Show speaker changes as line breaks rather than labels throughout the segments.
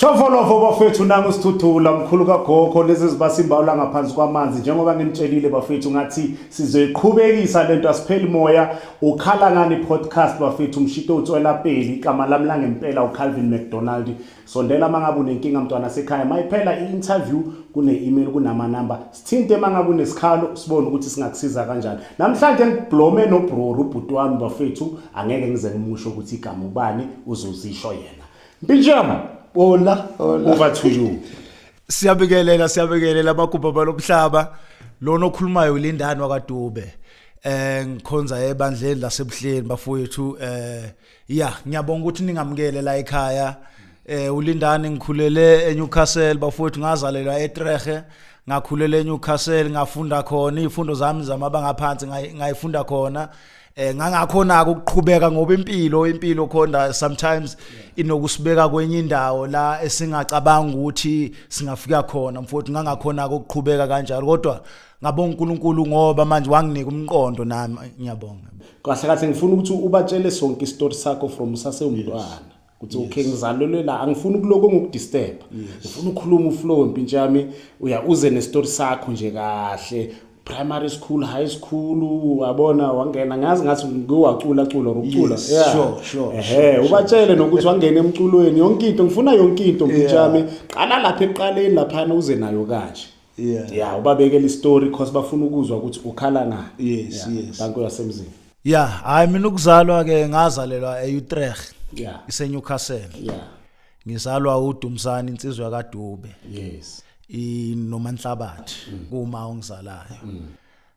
Chofolofo bafethu nangu sithuthula mkhulu kagogo lezi zibasimbawula ngaphansi kwamanzi njengoba nginitshelile bafethu ngathi sizoyiqhubekisa lento asipheli moya ukhala ngani podcast bafethu umshito utswela peli igama lami langempela uCalvin McDonald Sondela mangabe unenkinga mntwana sekhaya mayiphela i-interview kune-email kunamanamba sithinte mangabe unesikhalo sibone ukuthi singakusiza kanjani namhlanje ngiblome nobroru ubhuti wami bafethu angeke ngize ngimusho ukuthi igama ubani uzozisho yena mpintshama bola over to you siyabikelela siyabikelela
abagubha balomhlaba lona okhulumayo ulindani wakadube eh ngikhonza ebandleni lasebuhleni bafowethu eh ya ngiyabonga ukuthi ningamukele la ekhaya eh ulindani ngikhulele eNewcastle bafowethu ngazalelwa eTrehe ngakhulela eNewcastle ngafunda khona izifundo zami zamabanga aphansi ngayifunda khona eh ngangakhona ukuqhubeka ngoba impilo impilo khona sometimes inokusibeka kwenye indawo la esingacabanga ukuthi singafika khona mfowethu ngangakhona ukuqhubeka kanjalo kodwa ngabonga uNkulunkulu ngoba manje wanginika umqondo nami ngiyabonga kahle kahle ngifuna
ukuthi ubatshele sonke isitori sakho from sasewumntwana ukuthi okay ngizalelwe la angifuni ukuloko ngokudisturb ngifuna ukukhuluma uflow impintsha yami uya uze nesitori sakho nje kahle primary school high school wabona wangena ngazi ngathi ngiwacula cula ukucula yeah sure sure ehe
ubatshele nokuthi
wangena emculweni yonke into ngifuna yonke into mpintsha yami qala lapha eqaleni lapha uze nayo kanje yeah yeah ubabekela istory because bafuna ukuzwa ukuthi ukhala ngani yes yeah. yes bantu
yasemzini
yeah hayi mina
ukuzalwa ke ngazalelwa eUtrecht yeah iseNewcastle yeah ngizalwa uDumsani insizwa yakadube yes inomanhlabathi mm. kuma ongizalayo mm.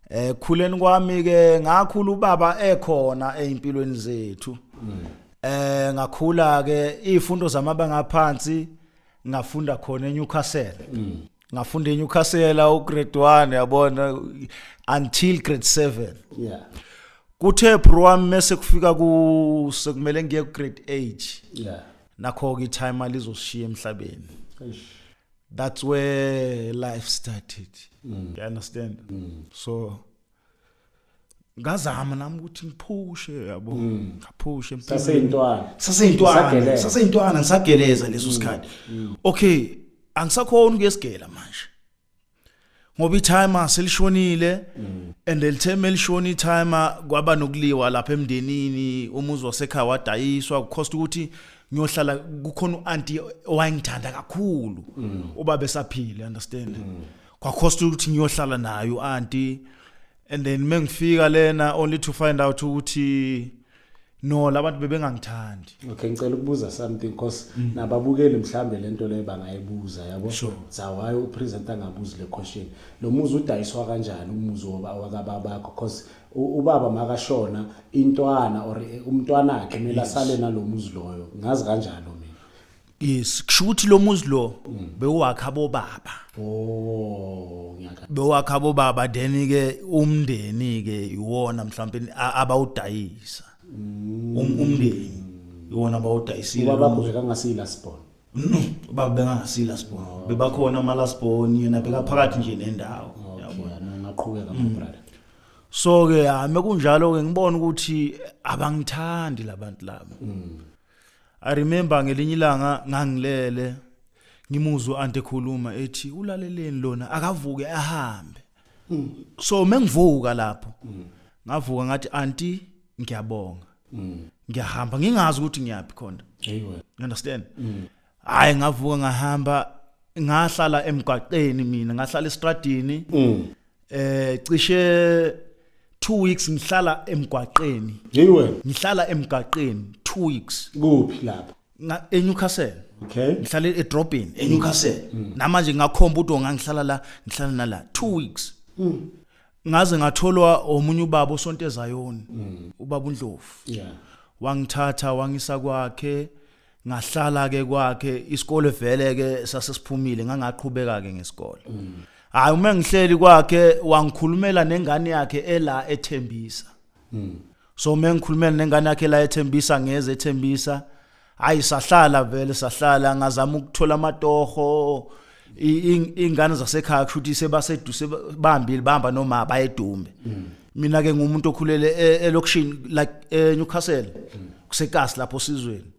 eh khuleni kwami ke ngakhula ubaba ekhona ezimpilweni zethu mm. eh ngakhula ke izifundo zamabanga aphansi ngafunda khona eNewcastle ngafunda eNewcastle ugrade 1 yabona until grade 7 yeah kuthe bro wami mase kufika ku sekumele ngiye ku grade 8 yeah nakho ke time alizoshiya emhlabeni that's where life started mm. you understand mm. so ngazama nami ukuthi ngiphushe yabo mm. ngaphushe saseyintwana saseyintwana saseyintwana ngisageleza leso mm. sikhathi mm. okay angisakhona ukuyesigela manje ngoba itime selishonile and elitheme elishona itime kwaba nokuliwa lapha emndenini umuzi wasekhaya wadayiswa kucost ukuthi ngiyohlala kukhona uanti owayengithanda kakhulu uba besaphile understand kwakhosta ukuthi ngiyohlala nayo auntie and then mengifika lena only to find out ukuthi no labantu bebengangithandi okay ngicela ukubuza
something because mm. nababukeli mhlambe lento leyo bangayibuza yabo sure. zawaye upresident angabuzi le question lo muzi udayiswa kanjani umuzi wakababa bakho because ubaba makashona intwana or eh, umntwana wakhe kumele asale nalomuzi loyo ngazi kanjalo mina yes kusho ukuthi lo
muzi lo bewakha abobaba Oh, ngiyaka. bewakha abobaba then ke umndeni ke iwona mhlawumbe a- abawudayisa Um- umndeni iwona abawudayisile Ubaba lo muzi. bheka ngasila
sibon. no baba
bengasila sibona bebakhona ama last born yena bekaphakathi nje nendawo Okay, no
ngaqhubeka my brother. so ke
hame kunjalo ke ngibona ukuthi abangithandi labantu laba I remember ngelinye ilanga ngangilele ngimuzwa ante khuluma ethi ulaleleni lona akavuke ahambe mm. so mengivuka lapho mm. ngavuka ngathi anti ngiyabonga mm. ngiyahamba ngingazi ukuthi ngiyaphi khona you understand
mm.
hayi ngavuka ngahamba ngahlala emgwaqeni mina ngahlala estradini mm. eh cishe 2 weeks ngihlala emgwaqeni yiwe ngihlala emgwaqeni 2 weeks kuphi lapho
eNewcastle
okay ngihlala
edrobheni
mm. eNewcastle mm. namanje ngakhomba udo ngangihlala la ngihlala nala 2 weeks ngaze ngatholwa omunye ubaba osonto ezayoni ubaba uNdlovu yeah wangithatha wangisa kwakhe ngahlala ke kwakhe isikole vele ke sasesiphumile ngangaqhubeka ke ngesikole mm. hayi uma ngihleli kwakhe wangikhulumela nengane yakhe ela ethembisa mm. so uma ngikhulumela nengane yakhe la ethembisa ngeze ethembisa hayi sahlala vele sahlala ngazama ukuthola amatoho ingane zasekhaya kushuthi sebasedu sebambile bahamba noma bayedumbe mm. mina ke ngumuntu okhulele e, elokishini like eNewcastle mm. kusekasi lapho sizweni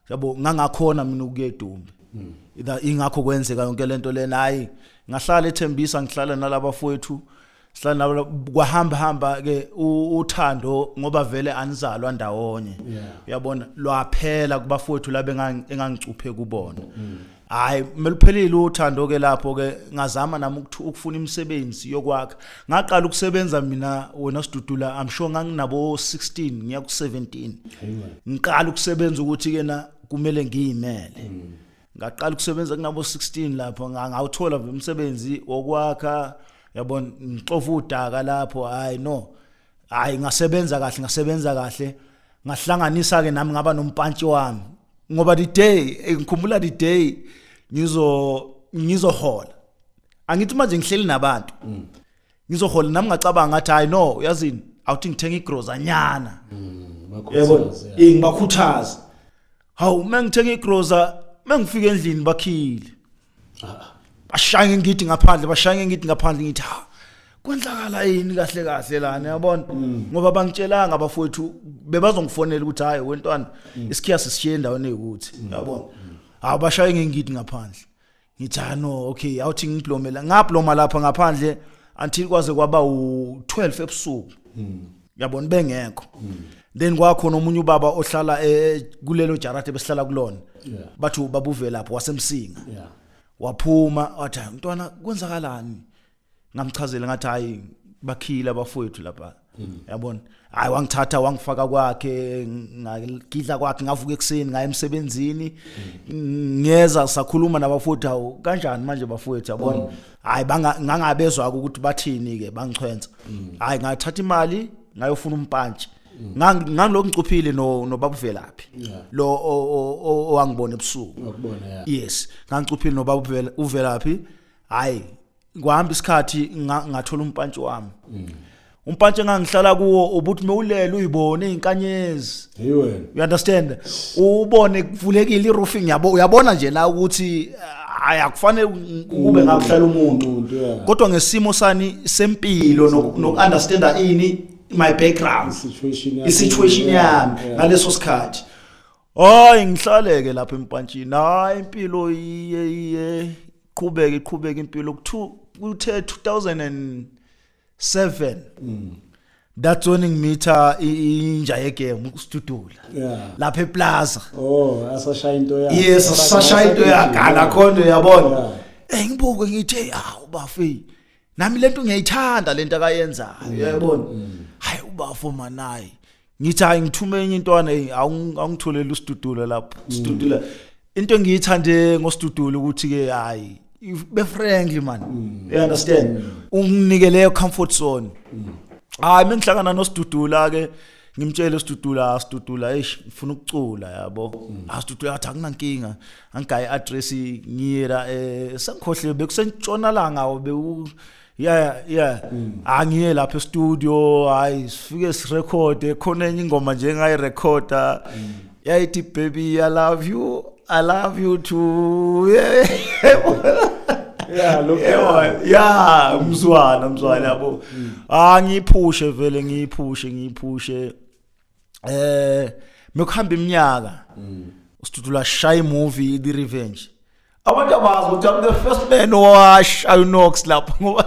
yabo ngangakhona mina ukuyedumbe mm. ingakho kwenzeka yonke lento lena hayi ngahlala ethembisa ngihlala nalabafowethu sanabo kwahamba hamba ke uthando ngoba vele anizalwa ndawonye uyabona lwaphela kubafowethu labe engangicuphe kubona mm. hayi kumele uphelile uthando ke lapho ke ngazama nami ukufuna imisebenzi yokwakha ngaqala ukusebenza mina wena sidudula i'm sure nganginabo 16 ngiya ku 17 ngiqala ukusebenza ukuthi ke na kumele ngiyimele mm. ngaqala ukusebenza kunabo 16 lapho ngawuthola umsebenzi wokwakha yabona ngixofa udaka lapho hayi no hayi ngasebenza kahle ngasebenza kahle ngahlanganisa ke nami ngaba nompantshi wami ngoba the day eh, ngikhumbula the day ngizo ngizohola angithi manje ngihleli nabantu mm. ngizohola nami ngacabanga ngathi hayi no uyazini awuthi ngithenga igrozanyana mm, yebo eh, ngibakhuthaza hawu uma ngithenga igroza uma ngifika endlini bakhile ah, ah. bashaya ngengidi ngaphandle bashaya ngengidi ngaphandle ngithi ha kwenzakala yini kahle kahle la niyabona mm. ngoba bangitshelanga abafowethu bebazongifonela ukuthi hayi wentwana mm. isikhiya sishiye endaweni ekuthi yabona hawu bashaye ngengidi ngaphandle ngithi ah no okay awuthi ngiblomela ngabloma lapha ngaphandle until kwaze kwaba u12 ebusuku hmm. yabona bengekho hmm. then kwakhona omunye ubaba ohlala eh, kulelo jarate besihlala kulona bathi babuvelaphi wasemsinga waphuma wathi mntwana kwenzakalani ngamchazela ngathi hayi bakhile abafowethu lapha hmm. yabona hayi wangithatha wangifaka kwakhe ngagidla kwakhe ngavuka ekuseni ngaye emsebenzini hmm. ngeza sakhuluma nabafowethu awu kanjani manje bafowethu yabona hmm. hayi ngangabezwa ukuthi bathini ke bangichwenza hayi ngathatha imali ngayofuna umpantshi ngangilokhu ngicuphile no nobaba uvelaphi lo owangibona ebusuku yes
ngangicuphile
nobaba uvelaphi hayi kuhamba isikhathi nga- ngathola umpantshi wami umpantshi engangihlala kuwo ubuthi mewulele uyibone izinkanyezi Hey wena. you understand ubone kuvulekile iroofing yabo uyabona nje la ukuthi ah, hayi akufanele kube ngakuhlala umuntu Umuntu ya. kodwa ngesimo sani sempilo noku- noku-understanda ini my background Situation yakho. i-situation yami Yeah. ngaleso sikhathi Hayi ngihlaleke lapha empantshini. Hayi impilo iye iye qhubeke iqhubeke impilo kuthe 2007. Mm. That's when ngimitha inja yegame uStudula. Yeah. Lapha eplaza. Oh, asashaya
into yakhe. Yes, asashaya into
yakhe ala khona uyabona. Eh ngibuke ngithe awu bafi. Nami lento ngiyayithanda lento akayenzayo. Uyabona? Mm. Hayi ubafo manayi. ngithi hayi ngithume enye intwana hey awungitholele usidudula lapho mm. sidudula into engiyithande ngosidudulo ukuthi ke hayi be friendly man mm. you understand mm. unginike leyo comfort zone hayi mengihlangana nosidudula ke ngimtshele usidudula asidudula eish ngifuna ukucula yabo asidudula athi akunankinga angigayi address ngiyela eh sengikhohle bekusentshonalanga bewu yeah yeah mm. angiye lapha e-studio hayi sifike sirekhode khona enye ingoma nje engayirekhoda mm. yayithi baby i love you i love you too yeah yeah look yeah mzwana mzwana yabo mm. ah ngiphushe vele ngiphushe ngiphushe eh mekuhamba iminyaka usithuthula shaya imovie the revenge abantu abazi ukuthi i'm the first man owashaya unox lapha ngoba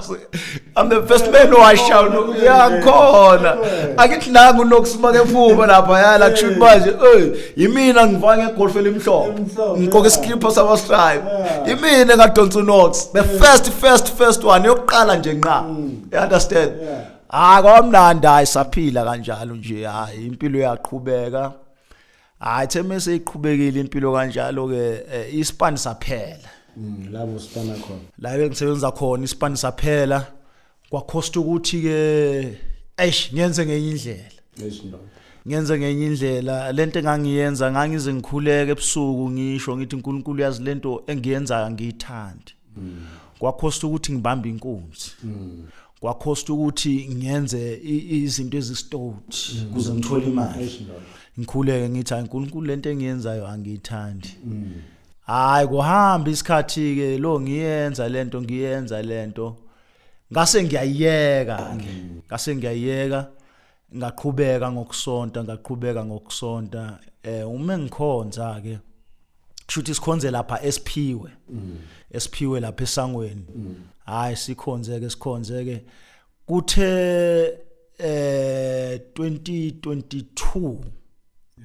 i'm the first man owashaya unox yakhona akithilanga unox makephuma lapha yala kusho ukuthi manje ey yimina ngivaka ngegolf elimhlophe ngiqoke iskipho sama stripe yimina ngadonsa unox the first first first one yokuqala nje nqa mm. you understand hayi kwamnandi hayi saphila kanjalo nje hayi impilo yaqhubeka hayi the mase iqhubekile impilo kanjalo ke eh, ispan saphela Mm, labo sipana
khona la bengisebenza
khona ispan saphela kwakhosta ukuthi ke eish ngenze ngenye indlela esindoda ngenze ngenye indlela lento engangiyenza ngangize ngikhuleke ebusuku ngisho ngithi uNkulunkulu yazi lento engiyenzayo angiyithandi kwakhosta ukuthi ngibambe inkunzi kwakhosta ukuthi ngenze izinto ezistout mm. kuze ngithole imali ngikhuleke ngithi hayi uNkulunkulu lento engiyenzayo angiyithandi mm. hayi kuhamba isikhathi ke lo ngiyenza lento ngiyenza lento ngase ngiyayeka ngase ngiyayeka ngaqhubeka ngokusonta ngaqhubeka ngokusonta eh uma ngikhonza ke kushuthi sikhonze lapha esiphiwe mm. esiphiwe lapha esangweni mm. hayi sikhonze ke sikhonze ke kuthe eh 2022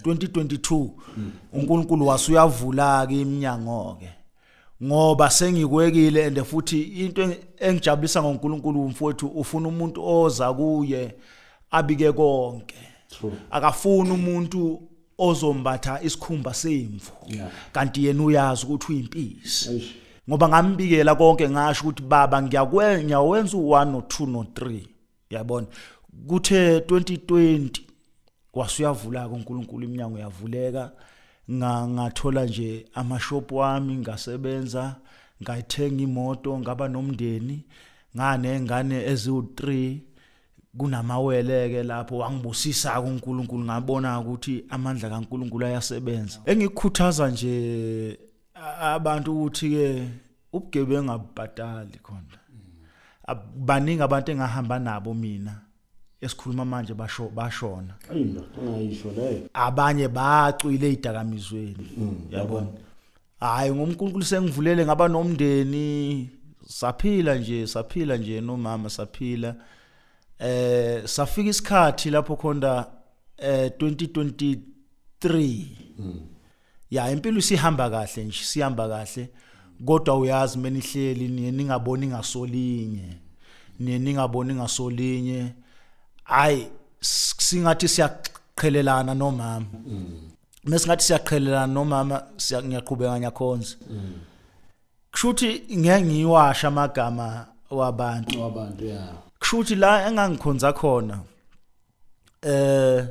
2022 mm. uNkulunkulu wasuyavula ke iminyango ke ngoba sengikwekile and futhi into engijabulisa ngoNkulunkulu umfowethu ufuna umuntu oza kuye abike konke akafuni umuntu ozombatha isikhumba semvu kanti yena uyazi ukuthi uyimpisi ngoba ngambikela konke ngasho ukuthi baba ngiyakwenza uwenza u1 no2 no3 yabona kuthe 2020 wasuyavulaka uNkulunkulu iminyango yavuleka nga ngathola nje amashop wami ngasebenza ngayithenga imoto ngaba nomndeni ngane ngane eziwu3 kunamawele ke lapho wangibusisa uNkulunkulu ngabona ukuthi amandla kaNkulunkulu ayasebenza engikukhuthaza nje abantu ukuthi ke ubugebengu abubhatali khona baningi abantu engahamba nabo mina esikhuluma manje basho bashona ayindoda ungayisho
leyo abanye bacwile
idakamizweni mm, yabona hayi ngoMkulunkulu sengivulele ngaba nomndeni saphila nje saphila nje nomama saphila eh safika isikhathi lapho khonda eh 2023 mm. ya impilo isihamba kahle nje sihamba kahle kodwa uyazi menihleli niye ningaboni ngasolinye niye ningaboni ngasolinye hayi singathi siyaqhelelana nomama mesingathi mm. siyaqhelelana nomama ngiyaqhubeka ngiyakhonza mm. kushuthi ngeke ngiwasha amagama wabantu wabantu ya
kushuthi la
engangikhonza khona eh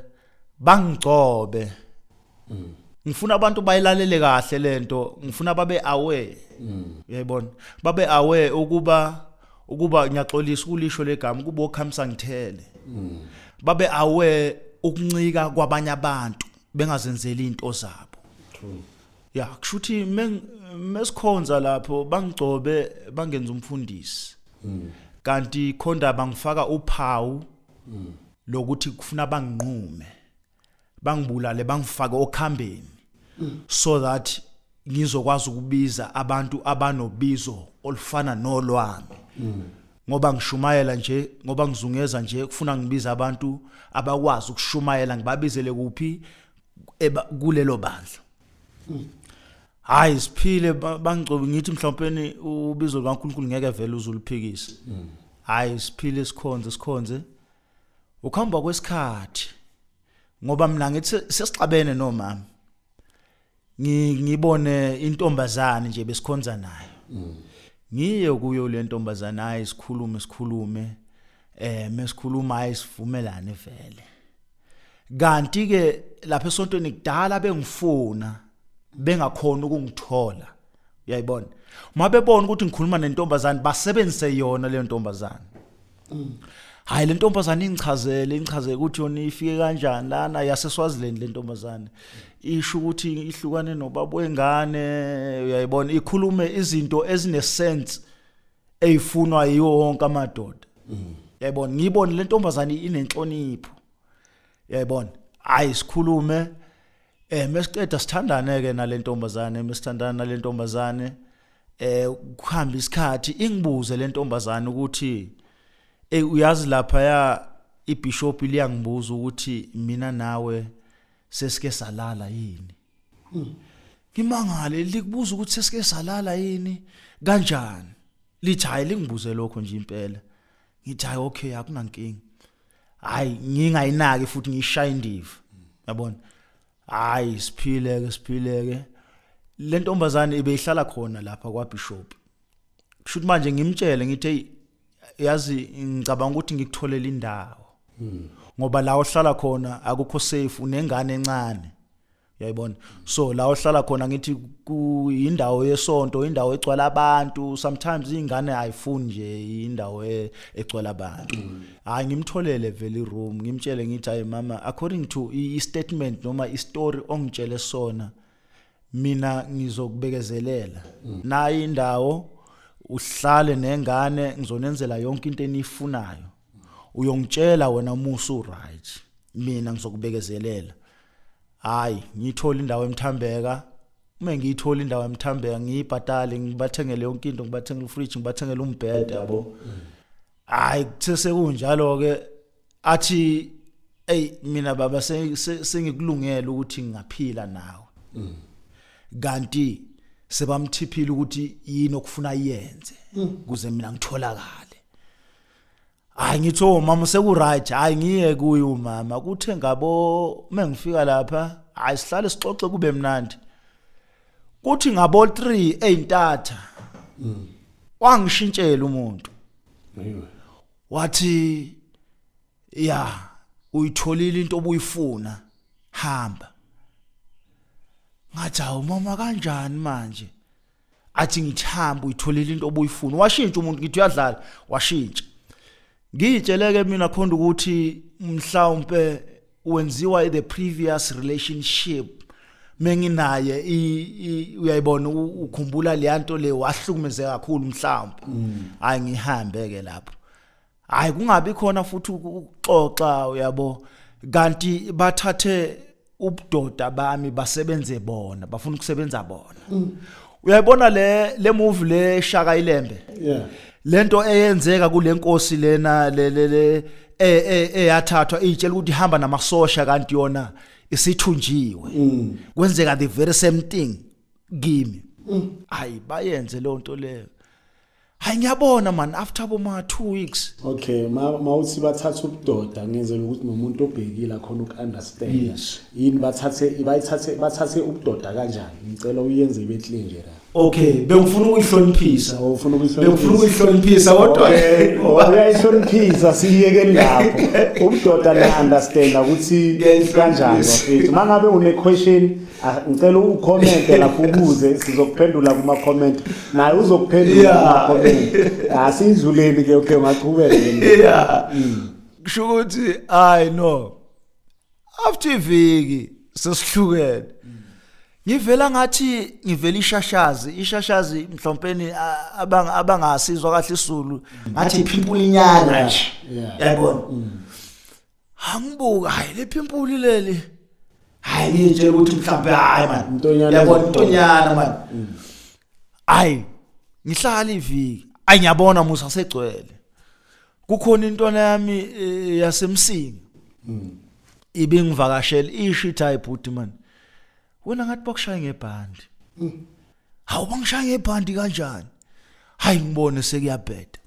bangigcobe ngifuna abantu bayilalele kahle lento ngifuna babe aware uyayibona babe aware ukuba ukuba ngiyaxolisa ukulisho legama kubo khamisa ngithele babe aware ukuncika kwabanye abantu bengazenzeli into zabo true ya kushuthi mesikhonza lapho bangigcobe bangenza umfundisi kanti khonda bangifaka uphawu mm. lokuthi kufuna banginqume bangibulale bangifake okhambeni mm. so that ngizokwazi ukubiza abantu abanobizo olufana nolwami mm. ngoba ngishumayela nje ngoba ngizungeza nje kufuna ngibiza abantu abakwazi ukushumayela ngibabizele kuphi eba kulelo bandla hayi siphile ba- bangcobi ngithi mhlawumpeni ubizo lukaNkulunkulu ngeke vele uzuluphikise hayi siphile sikhonze sikhonze ukuhamba kwesikhathi ngoba mina ngithi se- sesixabene nomama Ngi- ngibone intombazane nje besikhonza nayo ngiye kuyo le ntombazane hayi sikhulume sikhulume eh mesikhuluma hayi sivumelane vele kanti ke lapha esontweni kudala bengifuna bengakhona ukungithola uyayibona uma bebona ukuthi ngikhuluma nentombazane basebenzise yona leyo ntombazane hayi le ntombazane ingichazele ingichazele ukuthi yona ifike kanjani lana yaseswaziland le ntombazane isho ukuthi ihlukane nobaba wengane uyayibona ikhulume izinto ezinesense eyifunwa yiwo wonke amadoda mm. yayibona ngiyibone le ntombazane inenhlonipho yayibona hayi sikhulume eh mesiqeda sithandane ke nalentombazane mesithandana nalentombazane eh kuhamba isikhathi ingibuze lentombazane ukuthi eh uyazi lapha ya ibishop liyangibuza ukuthi mina nawe sesike salala yini ngimangale likubuza ukuthi sesike salala yini kanjani lithi hayi lingibuze lokho nje impela ngithi hayi okay akunankinga hayi ngingayinaki futhi ngiyishaye indiva yabona hayi siphileke siphileke le ntombazane ibeyihlala khona lapha kwabishop kusho ukuthi manje ngimtshele ngithe yazi ngicabanga ukuthi ngikutholele indawo ngoba la ohlala khona akukho safe unengane encane yayibona so la ohlala khona ngithi kuyindawo yesonto indawo egcwala abantu sometimes ingane ayifuni nje indawo e, egcwala abantu mm. hayi ngimtholele vele room ngimtshele ngithi hayi mama according to i statement noma i story ongitshele sona mina ngizokubekezelela mm. nayi indawo uhlale nengane ngizonenzela yonke into enifunayo uyongitshela wena uma usu right mina ngizokubekezelela hayi ngithola indawo emthambeka uma ngiyithola indawo emthambeka ngiyibhatale ngibathengele yonke into ngibathengele ufridge ngibathengele umbhede yabo hayi kusese kunjalo ke athi ey mina baba sengikulungela ukuthi ngingaphila nawe mm. kanti sebamthiphile ukuthi yini okufuna yenze mm. kuze mina ngitholakale hayi ngithi o oh, mama sekuright hayi ngiye kuye umama kuthe ngabo mengifika lapha hayi sihlale sixoxe kube mnandi kuthi ngabo 3 ezintatha mm. wangishintshela umuntu wathi ya uyitholile into obuyifuna hamba ngathi awu mama kanjani manje athi ngithamba uyitholile into obuyifuna washintsha umuntu ngithi uyadlala washintsha ngiyitsheleke mina khona ukuthi mhlawumbe wenziwa the previous relationship menginaye uyayibona ukhumbula leyanto le wahlukumezeka kakhulu mhlawumbe mm. hayi ngihambe ke lapho hayi kungabi khona futhi ukuxoxa uyabo kanti bathathe ubudoda bami basebenze bona bafuna ukusebenza bona mm. uyayibona le le move le shaka ilembe yeah lento eyenzeka kulenkosi lena le le le e, e, eyathathwa itshela ukuthi ihamba namasosha kanti yona isithunjiwe mm. kwenzeka the very same thing kimi mm. hayi bayenze leyo nto leyo hayi ngiyabona man after boma two weeks okay ma ma
uthi bathatha ubudoda ngenzela ukuthi nomuntu obhekile akhona ukunderstand Yes. yini bathathe bayithathe bathathe ubudoda kanjani ngicela uyenze ibe clean nje la okay bengifuna
ukuyihloniphisa Oh, ufuna ukuyihloniphisa? bengifuna ukuyihloniphisa kodwa Okay, oh, uyayihloniphisa
siyeke lapho ubudoda niya-understanda ukuthi Ngiyayihloniphisa. kanjani bafethu uma ngabe une-question Ah, ngicela ukhomente lapho ubuze sizokuphendula kuma comment naye uzokuphendula kuma comment asizuleni ah, ke okay maqhubeke yeah mm. kusho
ukuthi i know after iviki sesihlukene ngivela ngathi ngivela ishashazi ishashazi mhlompeni abanga abangasizwa kahle isulu ngathi phimpulinyana yabona mm. angibuka hayi lephi impuli leli hayi ngitshela ukuthi mhlawumbe hayi man Mntonyana yabona ezokhona. mntonyana man hayi ngihlala iviki ayi ngiyabona musa segcwele kukhona intwana yami eh, yasemsinga ibingivakashela isho ithi hayi bhuti man wena ngathi bakushaya ngebhandi hawu bangishaya ngebhandi kanjani hayi ngibone sekuyabheda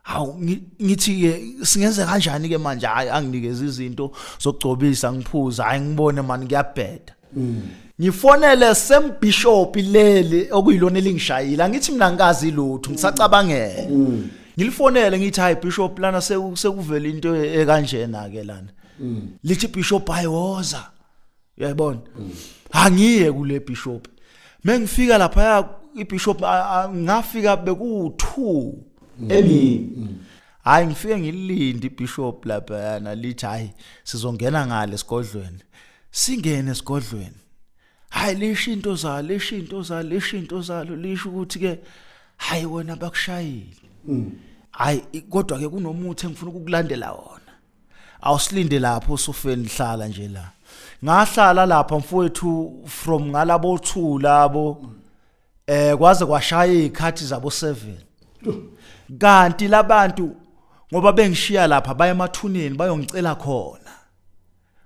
hawu ngithi ke singenze kanjani ke manje hayi anginikeza izinto zokugcobisa ngiphuza hayi ngibone mani ngiyabheda mm. ngifonele sembishop leli okuyilona elingishayile angithi mina ngikazi lutho ngisacabangela mm. ngilifonele ngithi hayi bishop lana sekuvela into ekanjena ke lana mm. lithi bishop hayi woza uyayibona angiye kule bishop mengifika lapha ibishop ngafika beku2 emini mm. hayi ngifike ngilinde ibishop lapha yana lithi hayi sizongena ngale sigodlweni singene sigodlweni hayi lisho into zalo lisho into zalo lisho into zalo lisho ukuthi ke hayi wena bakushayile mm. hayi kodwa ke kunomuthi engifuna ukukulandela wona awusilinde lapho usufeni hlala nje la ngahlala lapha mfowethu from ngalabo two labo eh kwaze kwashaya izikhathi zabo 7 kanti labantu ngoba bengishiya lapha baye emathuneni bayongicela khona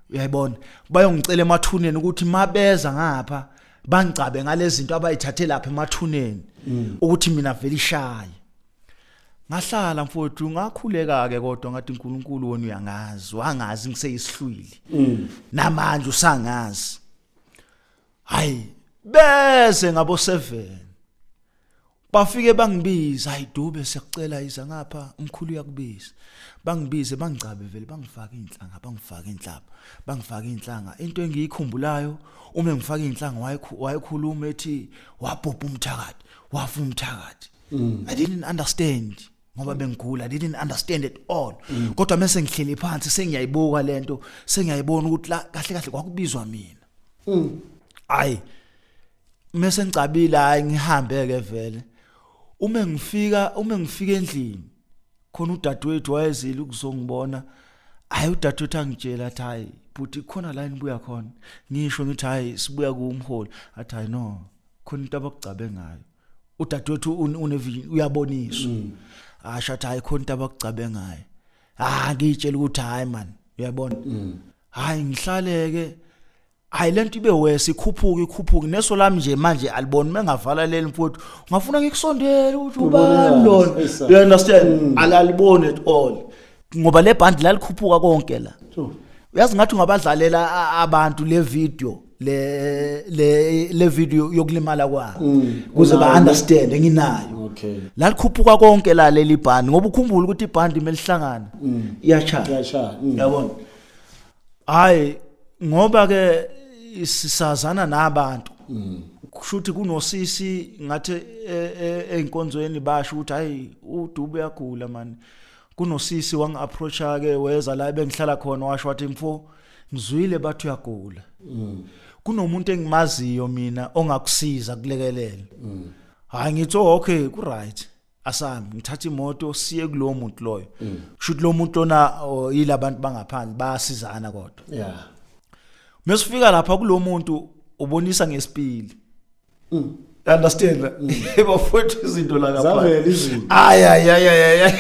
uyayibona bayongicela emathuneni ukuthi mabeza ngapha bangicabe ngalezinto abayithathe lapha emathuneni mm. ukuthi mina vele ishaye ngahlala mfowethu ngakhuleka ke kodwa ngathi uNkulunkulu wona uyangazi wangazi ngiseyisihlwili mm. namanje usangazi hayi bese ngabo 7 bafike bangibiza hayi dube siyakucela iza ngapha umkhulu uyakubiza bangibize bangigcabe vele bangifaka inhlanga bangifaka inhlaba bangifaka inhlanga into engiyikhumbulayo uma ngifaka inhlanga wayekhuluma ethi wabhubha umthakathi wafa umthakathi mm. i didn't understand ngoba bengigula i didn't understand at all mm. kodwa mase ngihleli phansi sengiyayibuka lento sengiyayibona ukuthi la kahle kahle kwakubizwa mina mm. ayi mase ngicabile hayi ngihambe ke vele uma ngifika uma ngifika endlini khona udadewethu wayezile ukuzongibona hayi udadewethu angitshela athi hayi bhuti khona la nibuya khona ngisho ngithi hayi sibuya kuwumholi athi hayi no khona into abakugcabe ngayo udadewethu unevi uyaboniswa mm. asho athi hayi khona into abakugcabe ngayo ah ngitshela ukuthi hayi man uyabona mm. hayi ngihlaleke hayi lento ibe wese ikhuphuka ikhuphuka neso lami nje manje alibona mengavala leli mfowethu ngafuna ngikusondele ukuthi ubani lona you understand mm. alaliboni at all ngoba le band lalikhuphuka konke la uyazi ngathi ungabadlalela abantu le video le le le video yokulimala kwami mm. kuze ba understand enginayo okay la likhuphuka
konke
la leli band ngoba ukhumbula ukuthi iband imelihlangana mm. iyacha iyacha mm. yabona hayi ngoba ke sisazana nabantu kushuthi kunosisi ngathi e, e, einkonzweni basho ukuthi hayi udube yagula mani kunosisi wangi-approacha ke weza la ebengihlala khona washo wathi mfo ngizwile bathi uyagula mm. kunomuntu engimaziyo mina ongakusiza kulekelela mm. hayi ngithi oh, okay ku-right asambi ngithatha imoto siye kulowo muntu loyo mm. kushuthi lowo muntu lona oh, yila bantu bangaphandle bayasizana kodwa yeah
mesifika
lapha kulowo muntu ubonisa ngesipili mm. understand mm. bafowethu izinto la ngaphandle
ay ay ay ay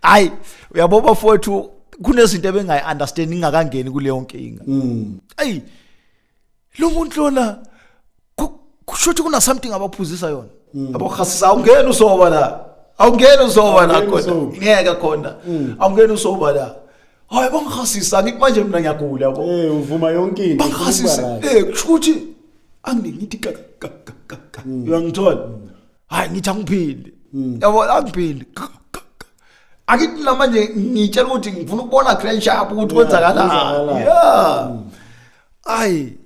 ay uyabo bafowethu kunezinto ebengayi understand ingakangeni kuleyo nkinga mm. ay lo muntu lona kusho ukuthi kuna something abaphuzisa yona mm. abokhasisa awungeni usoba la awungeni usoba la kodwa ngeke khona mm. awungeni usoba la hayi bangikhasisa ngithi manje mina ngiyagula yabo eh uvuma yonke into
bangikhasisa eh kusho
ukuthi angeke ngithi ka ka ka ka ka Mm. uyangithola hayi ngithi angiphili Mm. yabo angiphili Ka, ka, ka. akithi namanje ngitshela ukuthi ngifuna ukubona grand sharp ukuthi Yeah, kwenzakalani kwenzakalani. Mm. yeah ayi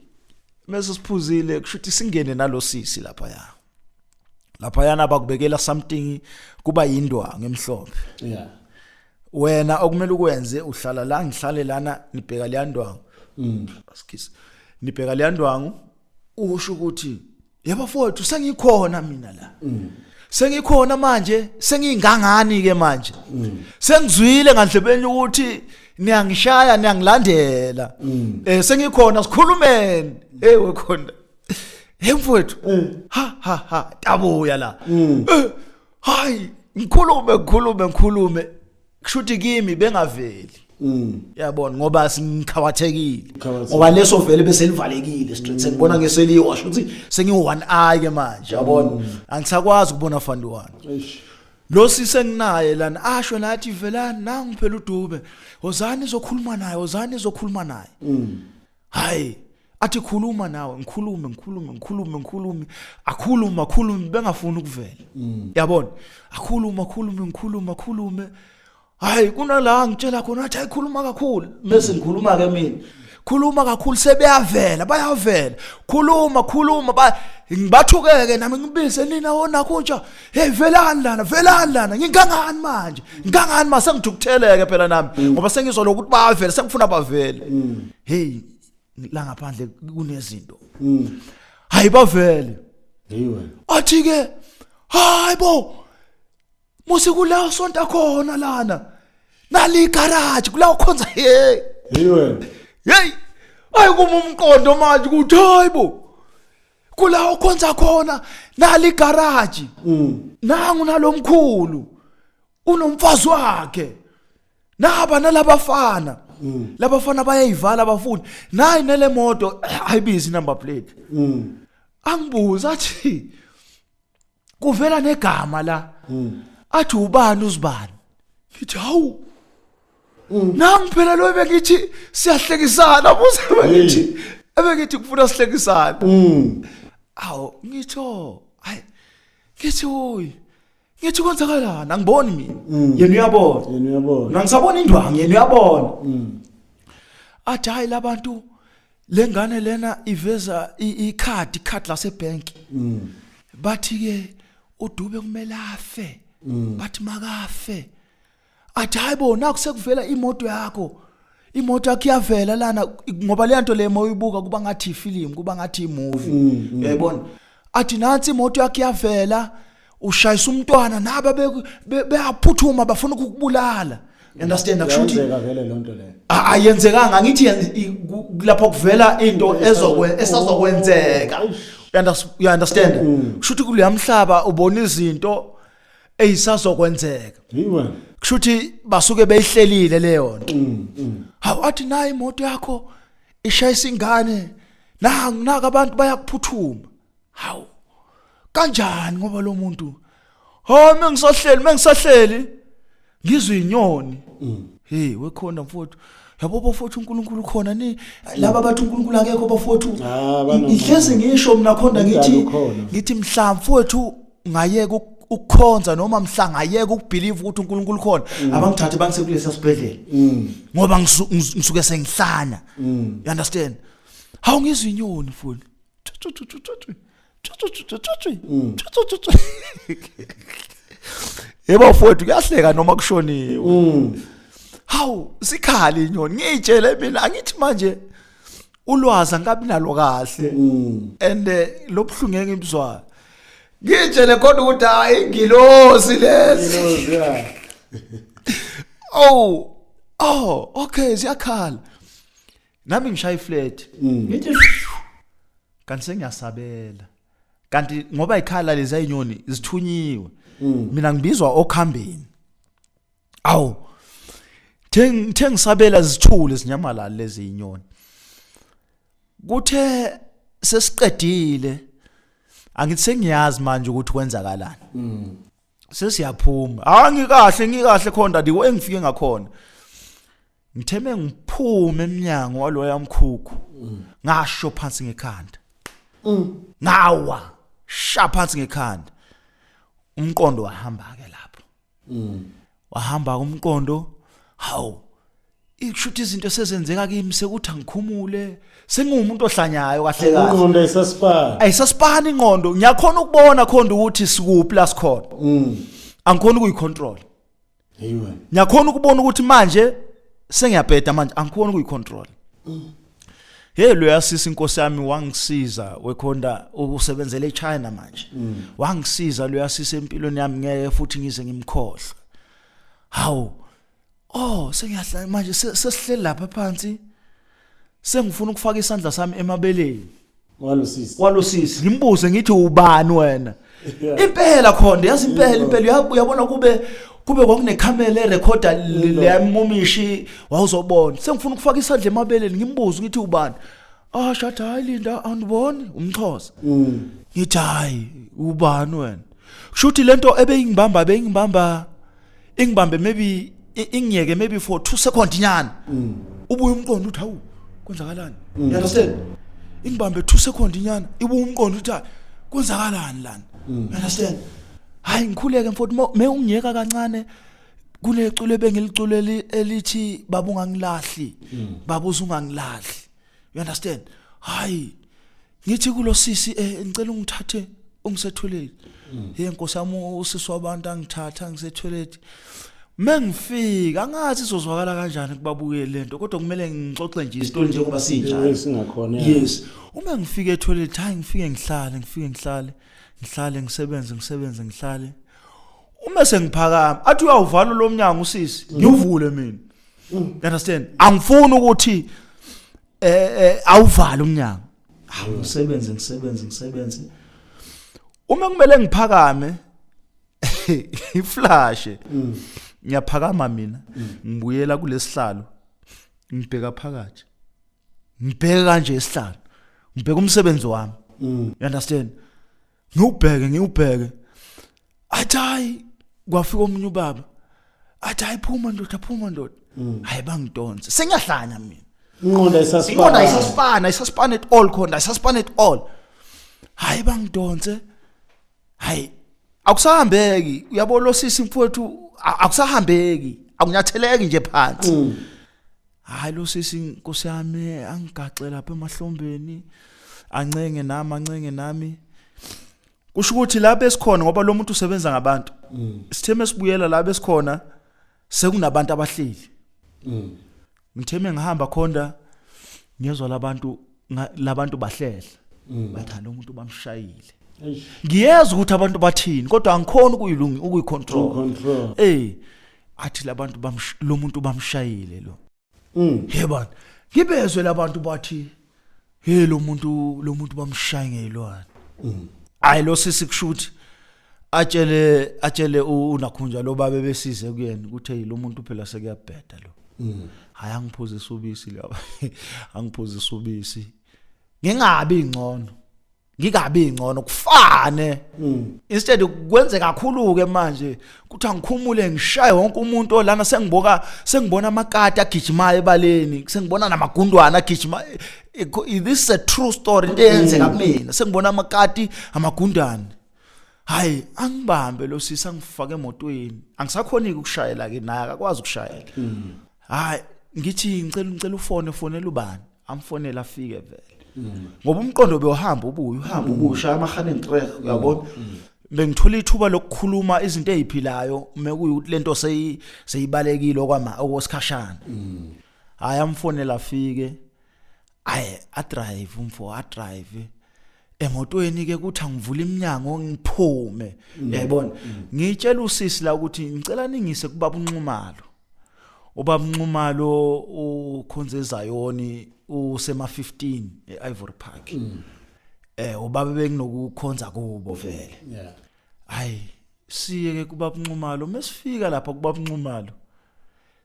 mese siphuzile kusho ukuthi singene nalosisi lapha ya laphayana bakubekela something kuba yindwa ngemhlophe yeah
wena
okumele ukwenze uhlala la ngihlale lana ngibheka leyandwangu mm skis ngibheka leyandwangu usho ukuthi yebo fowethu sengikhona mina la mm sengikhona manje sengingangani ke manje mm. sengizwile ngandlebeni ukuthi niyangishaya niyangilandela mm. eh sengikhona sikhulumeni hey wekhona Hey mfowethu. Ha ha ha, tabuya la. Eh, Hayi, ngikhulume ngikhulume ngikhulume. Kushuthi kimi bengaveli. Yabona ngoba singikhawathekile. Ngikhawathekile. Ngoba leso vele bese livalekile straight. Sengibona ngeseliwa sho ukuthi sengi one eye ke manje, yabona. Angisakwazi ukubona fandi wani. Eish. Lo sisi enginaye lana asho nathi velani nangu phela udube. Wozani izokhuluma naye, wozani izokhuluma naye. hayi athi khuluma nawe ngikhulume ngikhulume ngikhulume ngikhulume akhulume akhulume bengafuni ukuvela mm. yabona akhulume akhulume ngikhulume akhulume hayi kunala ngitshela khona athi ayikhuluma kakhulu mase ngikhuluma ke mina khuluma kakhulu sebeyavela bayavela khuluma khuluma ba ngibathukeke nami ngibise nina wona kunja hey velani lana velani lana ngingangani manje ngingangani ma sengithukutheleke phela nami mm. ngoba sengizwa lokuthi bavele sengifuna bavele mm. hey la ngaphandle kunezinto mm. hayi bavele yiwe
athi ke
hayi bo musi kula sonta khona lana nali garage kula ukhonza hey yiwe
hey
ayikuma umqondo manje ukuthi hayi bo kula okhonza khona nali garage mm. nangu nalomkhulu unomfazi wakhe naba nalabafana mm. labafana bayayivala abafuni nayi nelemoto ayibizi number plate mm. angibuza athi kuvela negama la mm. athi ubani uzibani ngithi hawu mm. nami phela lo bengithi siyahlekisana buze bengithi mm. ebengithi kufuna sihlekisana mm. awu ngitho oh, hayi ngithi oyi ngithi kwenzakalani angiboni mina mm. yena uyabona yena uyabona nangisabona indwangu yena uyabona mm. athi hayi labantu lengane lena iveza icard icard lasebank mm. bathi ke udube kumele afe mm. bathi makafe athi hayibo naku sekuvela imoto yakho imoto yakho iyavela lana ngoba le nto le moyibuka kuba ngathi ifilimu kuba ngathi imovie mm, uyayibona athi nansi imoto yakho iyavela ushayisa umntwana naba beyaphuthuma bafuna ukukubulala understand akushuthi yenzeka vele
lonto leyo ayenzekanga
ngithi lapho kuvela into ezokwe esazokwenzeka you understand mm. kushuthi kuleya mhlaba ubona izinto eyisazokwenzeka yiwe kushuthi basuke beyihlelile leyo nto mm, mm. hawu athi nayi imoto yakho ishayisa ingane nanga naka abantu bayakuphuthuma hawu kanjani ngoba lo muntu hawu mengisahleli mengisahleli ngizwe inyoni mm. hey wekhona mfowethu yabo bafowethu uNkulunkulu khona ni laba bathi uNkulunkulu akekho bafowethu ihlezi ngisho mina khonda ngithi ngithi mhla mfowethu ngayeka ukukhonza noma mhla ngayeka ukubelieve ukuthi uNkulunkulu khona mm. abangithathe bangise kulesa sibhedlela mm. ngoba ngisuke sengihlanya mm. you understand hawu ngizwe inyoni mfowethu yebo mfowethu kuyahleka noma kushoniwe mm. hawu sikhali inyoni ngiyitshele mina angithi manje ulwazi angabi nalo kahle mm. and eh, lobuhlungu ngeke ngibuzwayo ngitshele khona ukuthi hayi ingilosi lesi oh oh okay siyakhala nami ngishaya iflat ngithi kanti sengiyasabela kanti ngoba ikhala lezi ayinyoni zithunyiwe mina ngibizwa okhambeni awu theng thengisabela zithule zinyamalala lezi inyoni kuthe sesiqedile angithi sengiyazi manje ukuthi kwenzakalani sesiyaphuma hayi ngikahle ngikahle khona ndadi engifike ngakhona ngithe mengiphume emnyango waloya mkhukhu ngasho phansi ngekhanda ngawa sha phansi ngekhanda umqondo wahamba ke lapho wahamba umqondo hawu ikushuthi izinto sezenzeka kimi sekuthi angikhumule sengiwumuntu ohlanyayo kahle kahle ingqondo isasipani
ayisasipani
ingqondo ngiyakhona ukubona khona ukuthi sikuphi la sikhona angikhona ukuyicontrol ngiyakhona ukubona ukuthi manje sengiyabheda manje angikhona ukuyicontrol hey loya sisi inkosi yami wangisiza wekhonda ukusebenzela eChina manje mm. wangisiza loya sisi empilweni yami ngeke futhi ngize ngimkhohlwe hawu oh sengiyahlala manje sesihleli lapha phansi sengifuna ukufaka isandla sami emabeleni walosisi walosisi ngimbuze ngithi ubani wena impela khona yazi impela impela uyabona kube kube kwakunekhamera erekhoda leyamumishi wawuzobona sengifuna ukufaka isandla emabeleni ngimbuze ngithi ubani ah shada hayi linda andiboni umxhosa mm. ngithi hayi ubani wena kusho ukuthi lento ebeyingibamba beyingibamba ingibambe maybe ingiyeke maybe for 2 seconds nyana mm. ubuye umqondo uthi hawu kwenzakalani mm. you understand ingibambe 2 seconds nyana ibuye umqondo uthi kwenzakalani lana mm. you understand hayi ngikhuleke mfowethu me ungiyeka kancane kulecule bengilicule elithi baba ungangilahli baba uzungangilahli you understand hayi ngithi kulosisi eh ngicela ungithathe ungisethweleni mm. hey nkosi yami usisi wabantu angithatha ngisethweleni mengifika angathi izozwakala kanjani kubabuke lento kodwa kumele ngixoxe nje isitori njengoba sinjalo singakhona yes
uma
ngifike etoilet hayi ngifike ngihlale ngifike ngihlale ngihlale ngisebenze ngisebenze ngihlale uma sengiphakama athi uyawuvala lo mnyango usisi ngiwuvule mina Mm. You understand? Angifuni ukuthi eh, eh awuvale umnyango. Hawu mm. ngisebenze ngisebenze ngisebenze. Uma kumele ngiphakame iflashe. Mm. Ngiyaphakama mina. Ngibuyela kulesihlalo. Ngibheka phakathi. Ngibheka kanje isihlalo. Ngibheka umsebenzi wami. You understand? ngiwubheke ngiwubheke athi hayi kwafika omunye ubaba athi hayi phuma ndoda phuma ndoda mm. hayi bangidonse sengiyahlanya mina inqondo isasipana isasipana isasipana at all khona isasipana at all hayi bangidonse hayi akusahambeki uyabona losisi mfowethu akusahambeki akunyatheleki nje phansi mm. hayi lo sisi nkosi yami angigaxe lapha emahlombeni ancenge nami ancenge nami kusho ukuthi lapho esikhona ngoba lo muntu usebenza ngabantu mm. sitheme sibuyela lapho esikhona sekunabantu abahleli mm. ngitheme ngihamba khonda ngiyezwa labantu labantu bahlehla mm. bathanda umuntu bamshayile ngiyezwa ukuthi abantu bathini kodwa angikhona ukuyilungi ukuyicontrol eh athi labantu bamsh- lo muntu bamshayile lo Mm. he bani ngibezwe labantu bathi he lo muntu lo muntu bamshaye ngeyilwane hayi lo sisi kushuthi atshele atshele u- unakhunja lo babe besize kuyena ukuthi hey lo muntu phela sekuyabheda lo hayi angiphuzisa ubisi laba angiphuzisa ubisi ngingabi ingcono ngikabi ngcono kufane mm. instead kwenze kakhulu ke manje kuthi angikhumule ngishaye wonke umuntu olana sengiboka sengibona amakati agijimayo ebaleni sengibona namagundwana agijima this is a true story into eyenzeka mm. kumina sengibona amakati amagundane hayi angibambe lo sisi angifake emotweni angisakhoni ukushayela ke naye akakwazi ukushayela mm. hayi ngithi ngicela ngicela ufone fonela ubani amfonela afike vele ngoba umqondo bewuhamba ubuye uhamba ubuye ushaya amahane ngitrek uyabona bengithola ithuba lokukhuluma izinto eziphilayo mekuyukuthi lento seyi seyibalekile okwama okwesikhashana hayi amfonela afike ayi adrive umfo adrive emotweni ke kuthi angivula iminyango ngiphume mm. yayibona mm. ngitshela usisi la ukuthi ngicela ningise kubaba unxumalo ubaba unxumalo ukhonze ezayoni usema 15 eIvory Park mm. eh ubaba benginokukhonza kubo vele yeah hayi siye ke kubaba unxumalo mesifika lapha kubaba unxumalo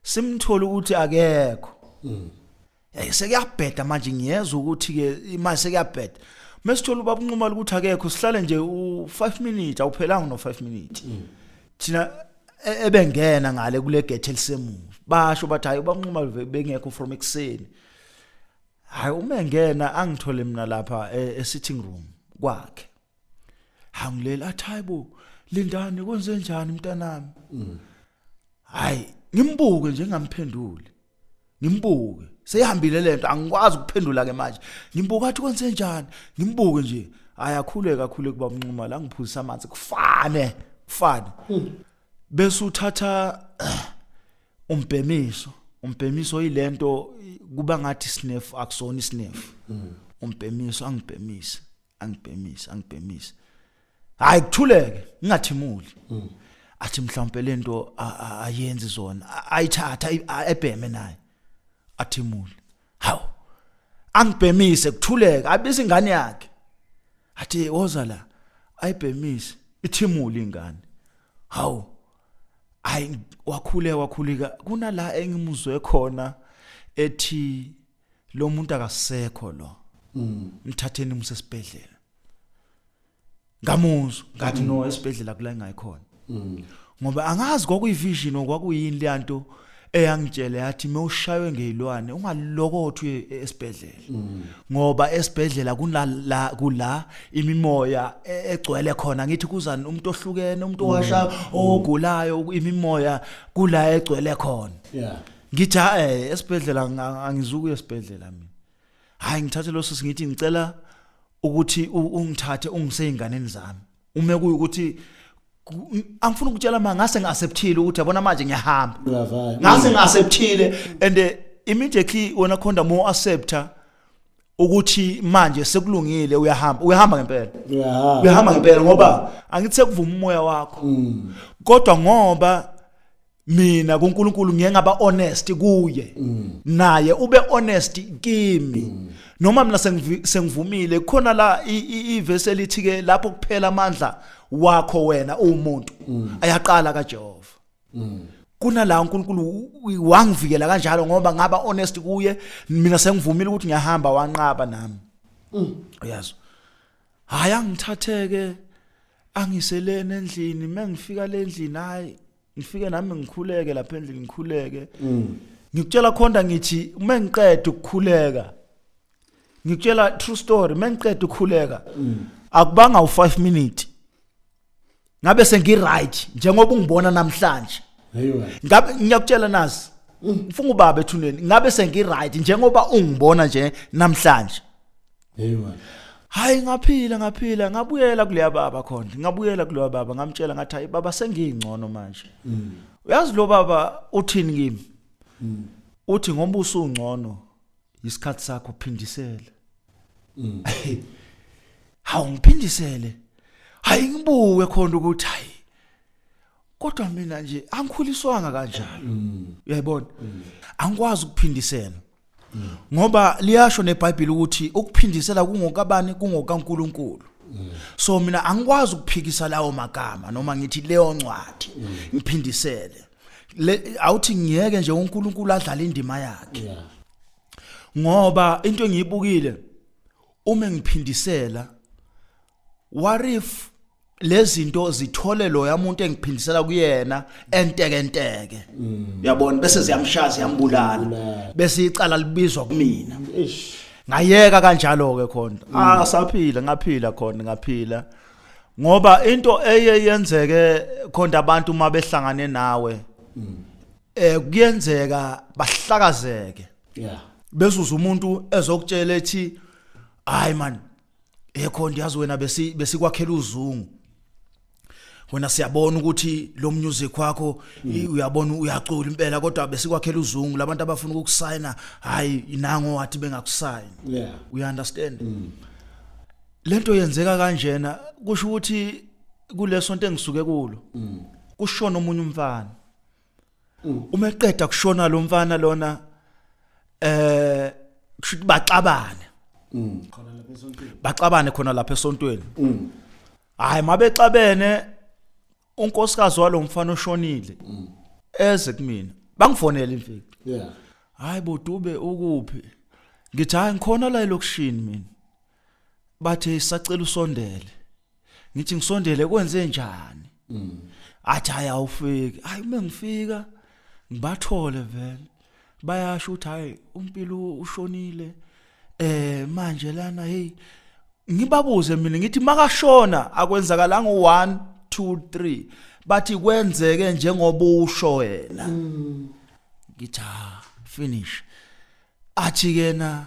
simthola ukuthi akekho mm. Hey sekuyabheda manje ngiyezwa ukuthi ke imali sekuyabheda. Mesithola ubaba unquma ukuthi akekho sihlale nje u5 minutes awuphelanga no 5 minutes. Mm. Thina e-, ebengena ngale kule gate elisemuva. Basho bathi hayi ubaba unquma bengekho from ekseni. Hayi uma engena angithole mina lapha e-, e-sitting room kwakhe. Hangilela athi hayibo lindani kwenze njani mntanami? Mm. Hayi ngimbuke nje ngamphenduli. ngimbuke seyihambile lento angikwazi ukuphendula ke manje ngimbuka athi kwenze njani ngimbuke nje ayakhule kakhulu kuba mnxuma la ngiphuzisa amanzi kufane kufane hmm. bese uthatha umbhemiso umbhemiso yilento kuba ngathi sniff akusona isniff hmm. umbhemiso angibhemise angibhemise angibhemise hayi kuthuleke ngingathimuli mm. athi mhlawumbe lento ayenzi zona ayithatha ebheme naye athimule hawu angibhemise kuthuleka abise ingane yakhe athi woza la ayibhemise ithimule ingane hawu hayi wakhule wakhulika kunala engimuzwe khona ethi lo muntu akasekho lo mm. mthatheni umsesibhedlela ngamuzwa ngathi no esibhedlela kula ngayikhona ngoba angazi kwakuyivision okwakuyini leyanto eyangitshela yathi mewushaywe ngezilwane ungalokothwe esibhedlela ngoba esibhedlela kunala kula imimoya e- egcwele khona ngithi kuzani umuntu ohlukene umuntu owasha ogulayo imimoya kula egcwele khona yeah ngitha eh esibhedlela nga- angizukuya esibhedlela mina hayi ngithathe lo sisi ngithi ngicela ukuthi ungithathe ungise ezinganeni zami uma kuyukuthi angifuni ukutshela manje ngase ngiacceptile ukuthi yabona manje ngiyahamba ngase ngiacceptile and eh, immediately wena khonda mo accepta ukuthi manje sekulungile uyahamba uyahamba ngempela uyahamba uyahamba ngempela ngoba angithe kuvuma umoya wakho mm. kodwa ngoba mina kuNkulunkulu ngiye ngaba honest kuye mm. naye ube honest kimi mm. noma mina sengivumile khona la ivesi elithi ke lapho kuphela amandla wakho wena uwumuntu mm. ayaqala kaJehova kunala uNkulunkulu wangivikela kanjalo ngoba ngaba honest kuye mina sengivumile ukuthi ngiyahamba wanqaba nami uyazi hayi angithatheke angiselene endlini mengifika lendlini hayi ngifike nami ngikhuleke lapha endlini ngikhuleke mm. ngikutshela khonda ngithi uma ngiqeda ukukhuleka ngikutshela true story uma ngiqeda ukukhuleka mm. akubanga u5 minute ngabe sengiright njengoba ungibona namhlanje ngabe ngiyakutshela nazi mm. ngifuna ubaba ethuneni ngabe sengiright njengoba ungibona nje namhlanje Hey man. Hayi ngaphila ngaphila ngabuyela kuleya baba khona ngabuyela kuleya baba ngamtshela ngathi hayi baba sengingcono manje mm. uyazi lo baba uthini kimi mm. uthi ngoba usungcono isikhathi sakho phindisele mm. hawu ngiphindisele hayi ngibuke khona ukuthi hayi kodwa mina nje angikhuliswanga kanjalo mm. uyayibona mm. angikwazi ukuphindisela mm. ngoba liyasho nebhayibheli ukuthi ukuphindisela kungokabani kungokaNkuluNkulu so mina angikwazi ukuphikisa lawo magama noma ngithi leyo ncwadi ngiphindisele awuthi ngiyeke nje uNkulunkulu adlale indima yakhe ngoba into engiyibukile uma ngiphindisela what if lezinto zithole lo yamuntu engiphindisela kuyena enteke enteke uyabona bese ziyamshaya ziyambulala bese icala libizwa kumina ngayeka kanjalo ke khona ah saphila ngaphila khona ngaphila ngoba into eye yenzeke khona abantu uma behlangane nawe eh kuyenzeka bahlakazeke yeah bezuza umuntu ezokutshela ethi hayi man Yekho ndiyazi wena besi besikwakhela uzungu. Wena siyabona ukuthi lo music wakho mm. uyabona uyacula impela kodwa besikwakhela uzungu labantu abafuna ukukusayina hayi nango wathi bengakusayini. Yeah. You understand? Mm. Lento yenzeka kanjena kusho ukuthi kulesonto engisuke kulo. Mm. Kushona omunye umfana. Mm. uma eqeda kushona lo mfana lona eh kusho ukuthi baxabane mm. baxabane khona lapha esontweni mm. hayi mabexabene unkosikazi walomfana oshonile eze kumina bangifonela imfiki yeah hayi bodube ukuphi ngithi hayi ngikhona la elokushini mina bathe sacela usondele ngithi ngisondele kwenze njani mm. athi hayi awufiki hayi uma ngifika ngibathole vele bayasho ukuthi hayi umpilo ushonile eh manje lana hey ngibabuze mina ngithi makashona akwenzakalanga u1 2 3 bathi kwenzeke njengoba usho wena mm. ngithi ha ah, finish athi kena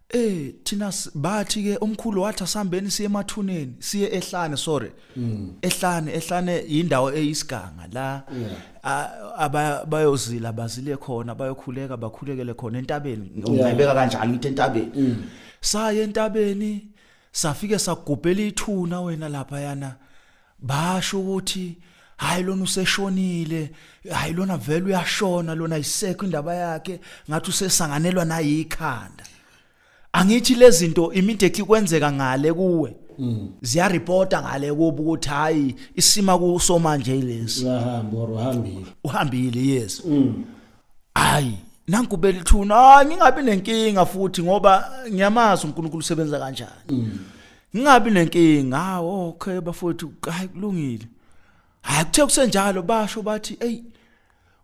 Eh thina s- bathi ke umkhulu wathi asihambeni siye emathuneni siye ehlane sorry ehlane ehlane indawo eyisiganga la a- aba- bayozila bazile khona bayokhuleka bakhulekele khona entabeni ngibeka kanjalo ngithi entabeni saye entabeni safike sagubhela ithuna wena lapha yana basho ukuthi hayi lona useshonile hayi lona vele uyashona lona isekho indaba yakhe ngathi usesanganelwa nayikhanda angithi lezinto immediately kwenzeka ngale kuwe mm. ziya reporta ngale kubo ukuthi hayi isima kuso manje lesi uyahamba or uhambile uhambile yes mm. hayi nanku belithuna ngingabi nenkinga futhi ngoba ngiyamazi uNkulunkulu usebenza kanjani mm. ngingabi nenkinga hawo ah, okay bafowethu hayi kulungile hayi kuthe kusenjalo basho bathi eyi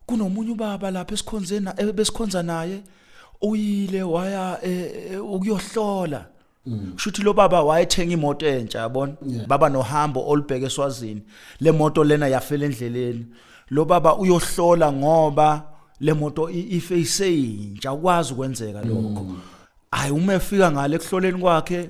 kunomunye ubaba lapha esikhonzeni eh, besikhonza naye uyile waya eh, eh, ukuyohlola mm. shuthi lo baba wayethenga imoto entsha yabona baba nohambo olubheke eswazini le moto lena yafela endleleni lo baba uyohlola ngoba le moto ife iseyintsha ukwazi ukwenzeka lokho mm. hayi uma efika ngale kuhloleni kwakhe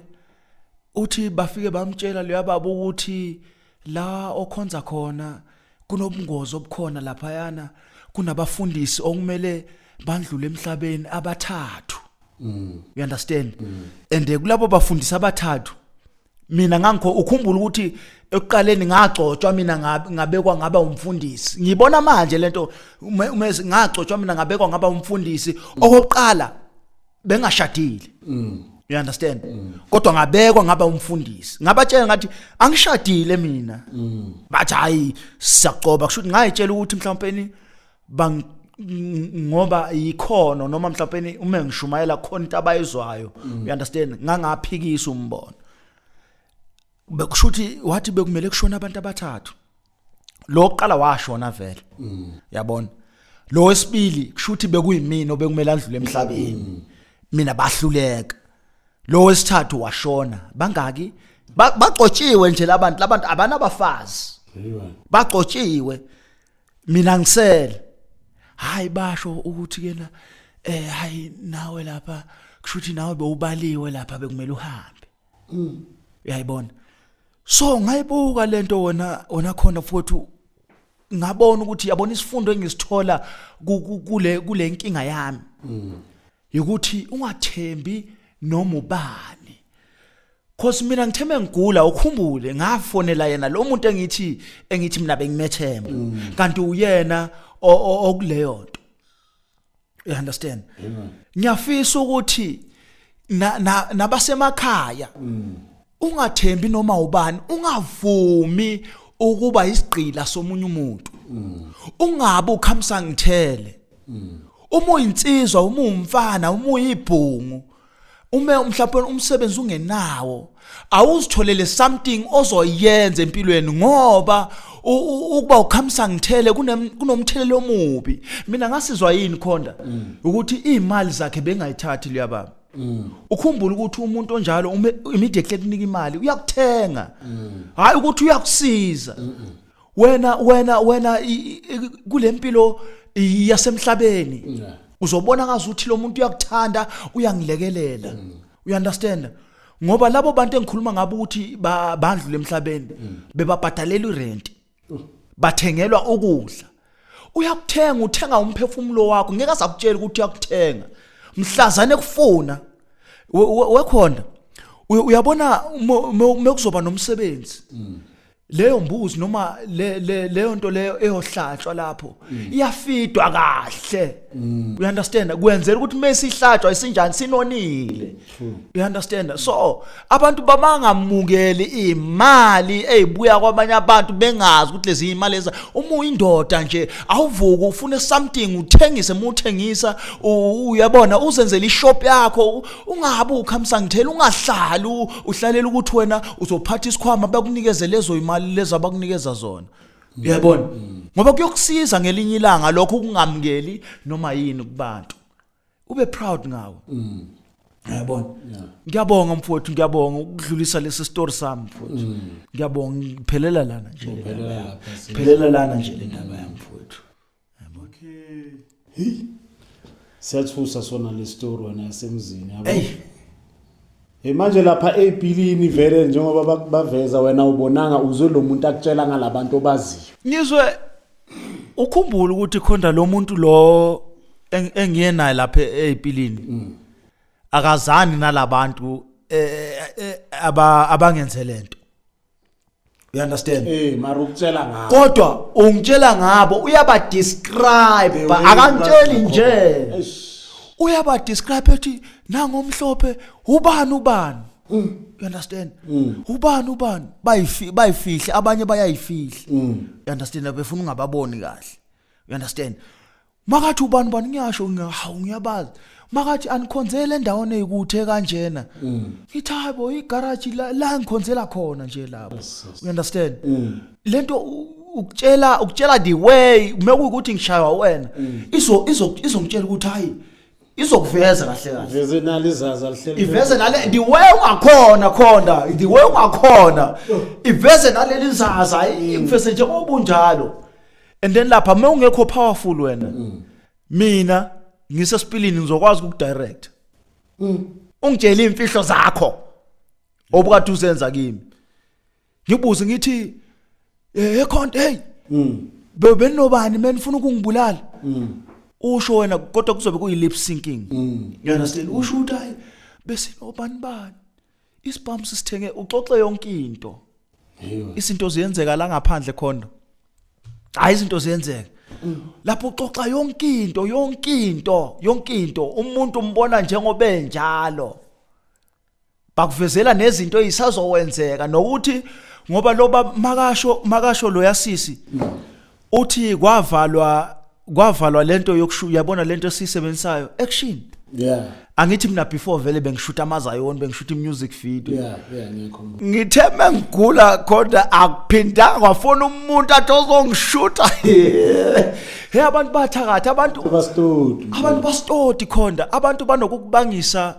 uthi bafike bamtshela leya baba ukuthi la okhonza khona kunobungozi obukhona lapha yana kunabafundisi okumele bandlule emhlabeni abathathu mm. you understand mm. and eh, kulabo bafundisi abathathu mina ngangikho ukhumbula ukuthi ekuqaleni ngagcotshwa mina ngabekwa ngaba umfundisi ngibona manje lento umezi ngagcotshwa mina ngabekwa ngaba umfundisi okokuqala bengashadile mm. you understand mm. kodwa ngabekwa ngaba umfundisi ngabatshela ngathi angishadile mina mm. bathi hayi siyacoba kusho ukuthi ngayitshela ukuthi mhlawumbe bang ngoba yikhono noma mhlawumbe uma ngishumayela khona into abayizwayo mm. you understand ngangaphikisa umbono bekushuthi wathi bekumele kushona abantu abathathu lo oqala washona vele mm. yabona lo wesibili kushuthi bekuyimina obekumele andlule emhlabeni mm. mina bahluleka lo wesithathu washona bangaki bagcotshiwe nje labantu labantu abanabafazi bagcotshiwe mina ngisele hayi basho ukuthi kena eh hayi nawe lapha kushuthi nawe bewubaliwe lapha bekumele uhambe mm. uyayibona so ngayibuka lento wona wona khona futhi ngabona ukuthi yabona isifundo engisithola kule kule nkinga yami mm. yokuthi ungathembi noma ubani Cause mina ngitheme ngigula ukhumbule ngafonela yena lo muntu engithi engithi mina bengimethemba mm. kanti uyena okuleyo nto you understand ngiyafisa ukuthi nabasemakhaya mm. ungathembi noma ubani ungavumi ukuba isigqila somunye umuntu ungabe ukhamsa ngithele uma uyinsizwa uma umfana uma uyibhungu uma mhlawumbe umsebenzi ungenawo awuzitholele something ozoyenza empilweni ngoba ukuba ukhamisa ngithele kunomthelelo omubi mina ngasizwa yini khonda ukuthi izimali zakhe bengayithathi leyababa ukhumbula ukuthi umuntu onjalo uma immediately kunika imali uyakuthenga hayi ukuthi uyakusiza wena wena wena i- i- kule mpilo i- yasemhlabeni Yeah. uzobona ngazuthi lo muntu uyakuthanda uyangilekelela you understand ngoba labo bantu engikhuluma ngabo ukuthi ba- bandlule emhlabeni bebabhadalela irent bathengelwa ukudla uyakuthenga uthenga umphefumulo wakho ngeke asakutshela ukuthi uyakuthenga mhlazane kufuna wekhona uyabona mekuzoba nomsebenzi mm. leyo mbuzi noma le leyo nto leyo eyohlatshwa lapho mm. iyafidwa kahle mm. you understand kwenzela ukuthi mesihlatshwa isinjani sinonile you understand so abantu babangamukeli imali ezibuya kwabanye abantu bengazi ukuthi lezi imali eza uma uyindoda nje awuvuka ufune something uthengise muthengisa uyabona uzenzele ishop yakho ungabe ukhamisa ngithela ungahlali uhlalela ukuthi wena uzophatha isikhwama bakunikeze lezo imali lezi abakunikeza zona uyabona ngoba kuyokusiza ngelinye ilanga lokho ukungamukeli noma yini kubantu ube proud ngawe mm. yabona ngiyabonga mfowethu ngiyabonga ukudlulisa lesi story sami mfowethu mm. ngiyabonga ngiphelela lana nje ngiphelela lana nje le ndaba yami mfowethu yabona okay
siyathusa sona le story wena yasemzini yabo Hey manje lapha eBhilini vele njengoba bak- baveza wena ubonanga uzwe lo muntu akutshela ngalabantu obaziyo. Ngizwe
ukhumbula ukuthi khona lo muntu lo eng- engiye naye lapha ePilini. Akazani nalabantu eh, eh, aba abangenze lento. you understand eh mara ukutshela
ngabo kodwa ungitshela
ngabo uyaba describe eh, akangitsheli nje uyaba describe ethi nangomhlophe ubani ubani mm. you understand mm. ubani ubani bayifi bayifihle abanye bayayifihla mm. you understand befuna ungababoni kahle you understand makathi ubani bani ngiyasho ngiya- hawu ngiyabazi makathi anikhonzele endaweni eyikuthe kanjena Mm. ngithi hayi bo igaraji la, la ngikhonzela khona nje lapho you understand Mm. le nto u- ukutshela ukutshela the way mekuyukuthi ngishaywa wena izo- izo- izongitshela ukuthi hayi izokuveza kahle kahle veze nalo izazi
alihleli iveze nale the way
ungakhona khona the way ungakhona iveze naleli izazi ayi ngifese nje obunjalo and then lapha uma ungekho powerful wena mina ngisesipilini ngizokwazi ukudirect ungitshela imfihlo zakho obukade uzenza kimi ngibuze ngithi eh ekhonto hey mm bebenobani menifuna ukungibulala mm usho wena kodwa kuzobe kuyi lip syncing mm you understand usho ukuthi hayi besinobani bani isibhamu sisithenge uxoxe yonke into izinto ziyenzeka la ngaphandle khondo hayi izinto ziyenzeka lapho uxoxa yonke into yonke into yonke into umuntu umbona njengobe njalo bakuvezela nezinto ezisazowenzeka nokuthi ngoba loba makasho makasho loyasisi uthi kwavalwa kwavalwa lento yokushuya yabona lento esisebenzisayo action yeah angithi mina before vele bengishuta amazayoni bengishuta imusic video yeah yeah ngiyakhumbula ngithe mengigula kodwa akuphindanga kwafona umuntu athi ozongishuta hey abantu bathakatha abantu bastodi abantu bastodi khonda abantu banokukubangisa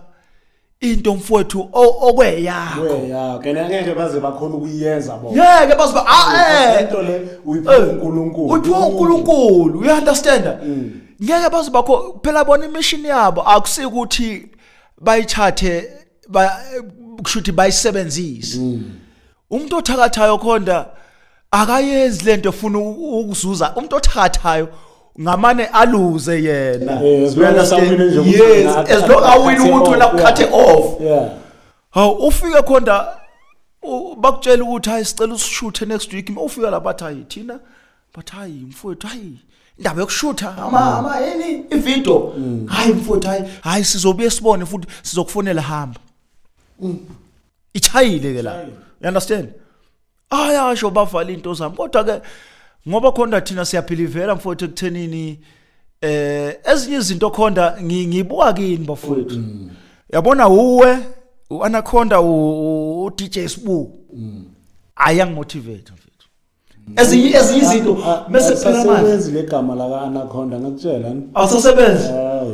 into mfowethu okweyakho kweyakho kena ngeke baze
bakhona ukuyenza bo ngeke baze ba ah
eh into le
uyiphiwa eh, uNkulunkulu uyiphiwa
uNkulunkulu you understand mm. ngeke baze bakho phela bona imission yabo akusikuthi bayithathe ba kushuthi bayisebenzise mm. umuntu othakathayo khonda akayenzi lento efuna ukuzuza umuntu othakathayo ngamane aluze yena yes as long
awina
ukuthi wena ukhathe off hawu ufike khonda bakutshela ukuthi hayi sicela usishuthe next week uma ufika lapha athi hayi thina but hayi mfowethu hayi indaba yokushutha ama ama yini ividio mm. hayi mfowethu hayi hayi sizobuye sibone futhi sizokufonela hamba mm. ichayile ke la you understand ayasho bavala into zami kodwa ke ngoba khona thina siyaphilivela mfowethu ekuthenini eh ezinye izinto khona ngibuka kini bafowethu mm. yabona uwe uanaconda u DJ Sbu mm. ayangi motivate ezinye ezinye izinto bese phela manje asebenzi legama laka
anaconda ngakutshela awusasebenzi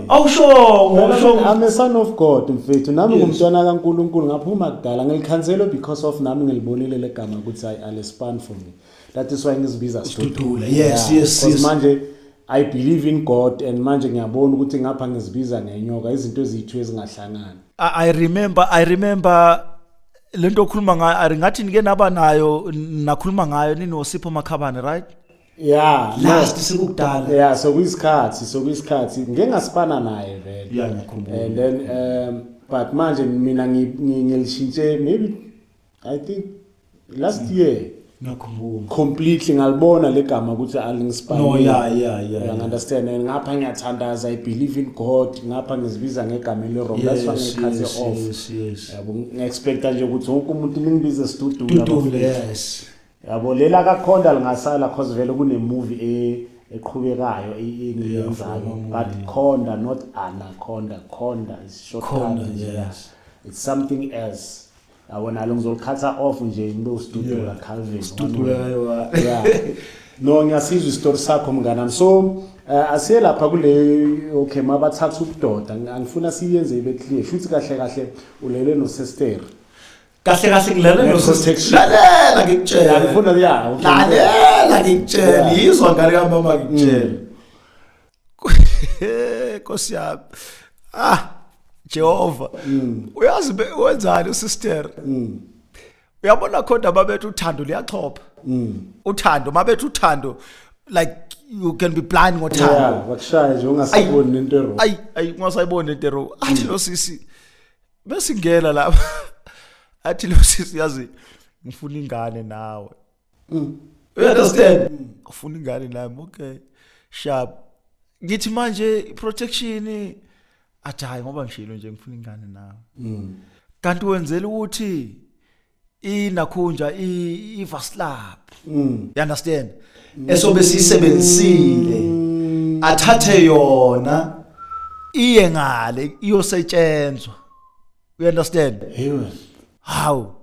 awushongo awushongo i'm a son
of god mfethu nami ngumntwana kaNkuluNkulu ngaphuma kudala ngilikhanselo because of nami ngilibonile legama ukuthi i alespan for me that is why ngizibiza studula yes yes yes manje i believe in god and manje ngiyabona ukuthi ngapha ngizibiza ngenyoka izinto ezithu ezingahlangani i remember
i remember lento okhuluma ngayo ari ngathi nike naba nayo nakhuluma ngayo ninosipho makhabane right yeah
last sikudala
yeah so kuyisikhathi
so kuyisikhathi ngeke ngasipana naye vele yeah ngikhumbula and then
um
but manje mina ngilishintshe maybe i think last mm. year ngiyakhumbula
completely ngalibona
legama ukuthi alingispani no yeah yeah
yeah you understand
and ngapha ngiyathandaza i believe in god ngapha ngizibiza ngegama le wrong that's why ngikhaze off yabo
ngiexpecta
nje ukuthi wonke umuntu ningibize studio studio yes
yabo lela
kakhonda lingasala cause vele kune movie e eqhubekayo engiyenzayo but khonda not anaconda khonda is short khonda yes it's
something
else yabo nalo ngizoliqhatha off nje ngibe usidudula calvin yeah no ngiyasizwa isitori sakho mnganami so uh, eh, asiye lapha kule okay mabathatha ubudoda angifuna siyenze ibe clear shuthi kahle kahle ulele nosester kahle kahle
ngilele noseselalela
ngikutshela
angifuna ya
lalela
ngikutshela yizwa ngane kamama ngikutshela mm. Nkosi yami. Ah Jehova. Mm. Uyazi wenzani usister? Mm. Uyabona khona babethu uthando liyaxhopha. Mm. Uthando mabethu uthando like you can be blind ngothando. Yeah, wakushaya nje
ungasayiboni nento ero. Ay ay ungasayiboni
nento ero. Athi mm. lo sisi besingena lapha. Athi lo sisi yazi ngifuna ingane nawe. Mm. You understand? Mm. Ufuna ingane nami, okay. Sharp. Ngithi manje protection athi hayi ngoba ngishilo nje ngifuna ingane nawe. Mm. Kanti wenzela ukuthi inakhunja ivaslab. Mm. You understand? Mm. Esobe sisebenzisile. Mm. Athathe yona iye ngale iyosetshenzwa. You understand? Yes. How?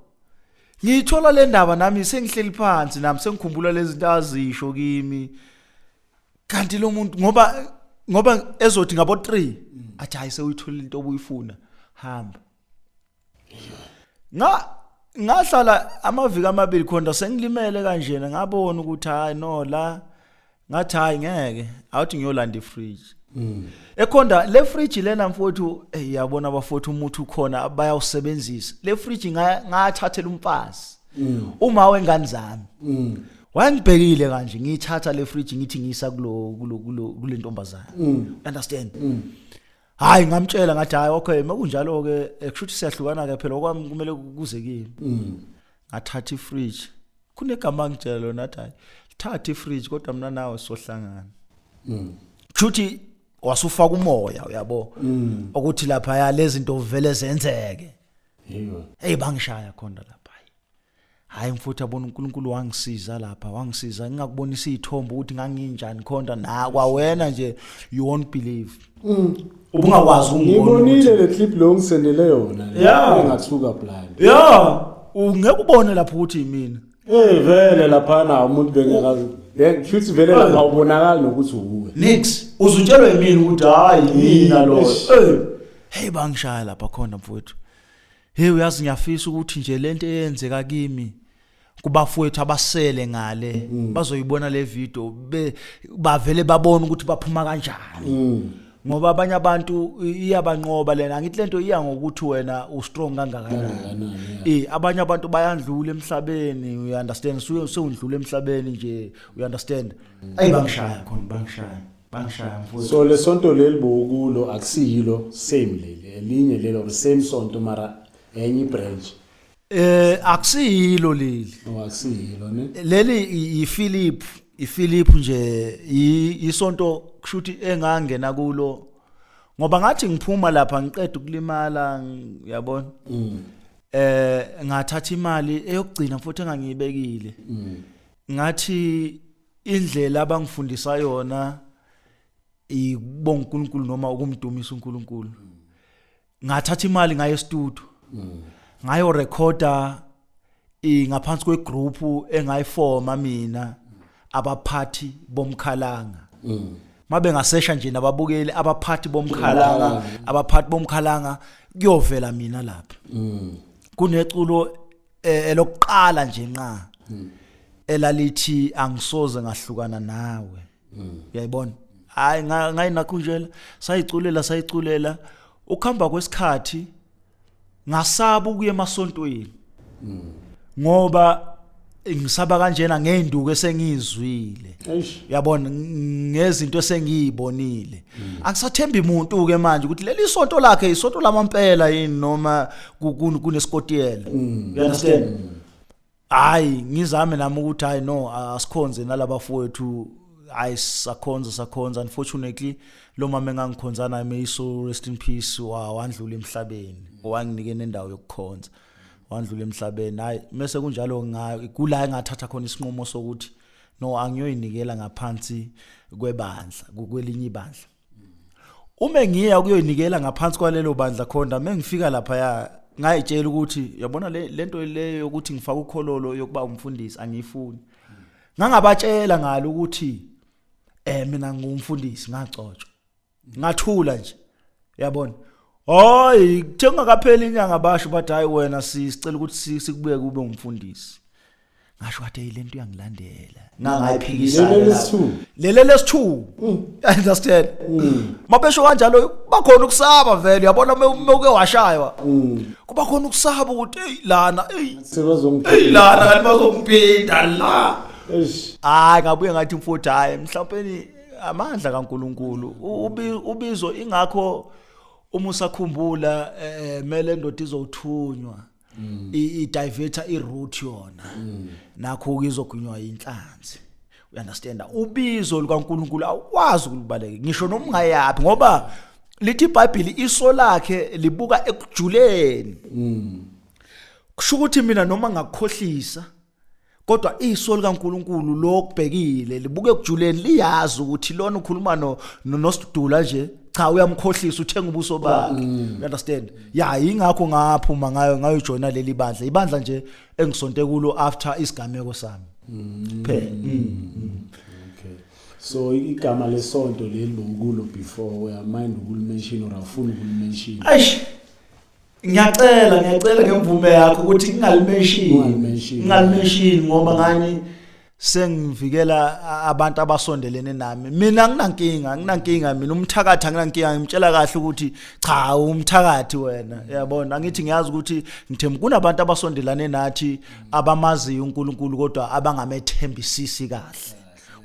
Ngiyithola le ndaba nami sengihleli phansi nami sengikhumbula lezi zinto azisho kimi. Kanti lo muntu ngoba ngoba ezothi ngabo 3 athi hayi sewuyithola into obuyifuna hamba. Nga ngahlala amaviki amabili khona sengilimele kanjena ngabona ukuthi hayi no la ngathi hayi ngeke awuthi ngiyolanda ifridge mm. ekhonda le fridge lena mfowethu hey yabona abafowethu umuthi ukhona bayawusebenzisa le fridge ngathathela umfazi mm. uma wengane zami mm. wangibhekile kanje ngiyithatha le fridge ngithi ngiyisa kulo kulo kulo kule ntombazana mm. understand mm. hayi ngamtshela ngathi hayi okay makunjalo ke eh, kushuthi siyahlukana ke phela okwami kumele kuze kimi mm. ngathatha ifridge kunegama angitshela lona athi hayi lithathe ifridge kodwa mina nawe sohlangana mm. kushuthi wasufaka umoya uyabo mm. ukuthi lapha ya lezinto vele zenzeke yebo hey bangishaya khona lapha hayi mfuthu abona uNkulunkulu wangisiza lapha wangisiza ngingakubonisa izithombe ukuthi nganginjani khona na kwawena nje you won't believe Mm. Ubungakwazi ukungibona. Ngibonile
le clip lo ngisendele yona. Yeah. Ngathuka blind. Yeah.
Ungeke ubone lapho ukuthi yimina. Eh vele lapha
na umuntu bengekazi. Eh futhi vele lapha ubonakala nokuthi uwe. Nix. Uzutshelwe
yimina ukuthi hayi yimina lo. Eh. Hey bangishaya lapha khona mfowethu. Hey uyazi ngiyafisa ukuthi nje lento eyenzeka kimi. kubafowethu abasele ngale mm. bazoyibona le video be bavele babona ukuthi baphuma kanjani mm. ngoba abanye abantu iyabanqoba lena ngithi lento iya ngokuthi wena u strong kangakanani eh abanye abantu bayandlula emhlabeni you understand suye usundlula emhlabeni nje you understand mm. ayi bangishaya khona bangishaya bangishaya mfowethu so lesonto leli
bokulo akusiyilo same leli elinye lelo same sonto mara enye branch Eh akusiyilo
leli. Oh akusiyilo ne.
Leli iPhilip,
iPhilip nje isonto kushuthi engangena kulo ngoba ngathi ngiphuma lapha ngiqeda ukulimala yabona. Mm. Eh ngathatha imali eyokugcina futhi engangiyibekile. Mm. Ngathi indlela abangifundisa yona ikubonga uNkulunkulu noma ukumdumisa uNkulunkulu. Mm. ngathatha imali ngaye studio mm. ngayo recorder ingaphansi kwegroup engayifoma mina abaphathi bomkhalanga mm. mabe ngasesha nje nababukeli abaphathi bomkhalanga abaphathi bomkhalanga kuyovela mina lapha mm. kuneculo eh, elokuqala nje nqa mm. elalithi angisoze ngahlukana nawe mm. uyayibona hayi ngayinakhunjela sayiculela sayiculela ukuhamba kwesikhathi ngasaba ukuya emasontweni mm. ngoba ngisaba kanjena ngeenduku esengizwile uyabona ngezinto esengiyibonile mm. angisathembi umuntu ke manje ukuthi leli sonto lakhe isonto lamampela yini noma kunesikotiyela mm. you understand hayi ngizame nami ukuthi hayi no asikhonze nalabafowethu hayi sakhonza sakhonza unfortunately lo mama engangikhonza naye may so rest in peace wa wandlula emhlabeni wanginike nendawo yokukhonza wandlula emhlabeni hayi mese kunjalo ngikula engathatha khona isinqumo sokuthi no angiyoyinikela ngaphansi kwebandla kwelinye ibandla uma ngiya kuyoyinikela ngaphansi kwalelo bandla khonda uma ngifika laphaya ngayitshela ukuthi yabona le nto leyo yokuthi ngifake ukhololo yokuba umfundisi angiyifuni ngangabatshela ngalo ukuthi eh mina ngumfundisi ngacotshwa ngathula nje yabona hayi kuthe ungakapheli inyanga basho bathi hayi wena sisicela ukuthi sikubuye kube umfundisi ngasho kade yilento uyangilandela ngangayiphikisa lele lesithu understand mabesho kanjalo kuba khona ukusaba vele uyabona mewuke washaywa kuba khona ukusaba ukuthi hey lana hey sebazongiphinda lana kanti bazongiphinda la hayi ngabuye ngathi mfowethu hayi mhlawumbe amandla kaNkuluNkulu ubizo ingakho uma usakhumbula eh, eh mele ndoda izothunywa mm. i diverter i route yona mm. nakho ukizogunywa inhlanzi u understand ubizo lukaNkuluNkulu awukwazi ukulibaleka ngisho noma ungayaphi ngoba lithi iBhayibheli iso lakhe libuka ekujuleni mm. kusho ukuthi mina noma ngakukhohlisa kodwa iso likaNkuluNkulu lokubhekile libuke kujuleni liyazi ukuthi lona ukhuluma no nosidudula nje cha uyamkhohlisa uthenga ubuso bakhe mm. you understand ya ingakho ngaphuma ngayo ngayo joina leli bandla ibandla nje engisonte kulo after isigameko sami mm. phela mm.
okay so igama lesonto leli lokulo before uyamind ukulimention or afuna ukulimention eish ngiyacela
ngiyacela ngemvume yakho ukuthi ngingalimenshini ngingalimenshini ngoba ngani sengivikela abantu abasondelene nami mina nginankinga nginankinga mina umthakathi anginankinga ngimtshela kahle ukuthi cha umthakathi wena uyabona angithi ngiyazi ukuthi ngithemba kunabantu abasondelane nathi abamaziyo uNkulunkulu kodwa abangamethembisisi kahle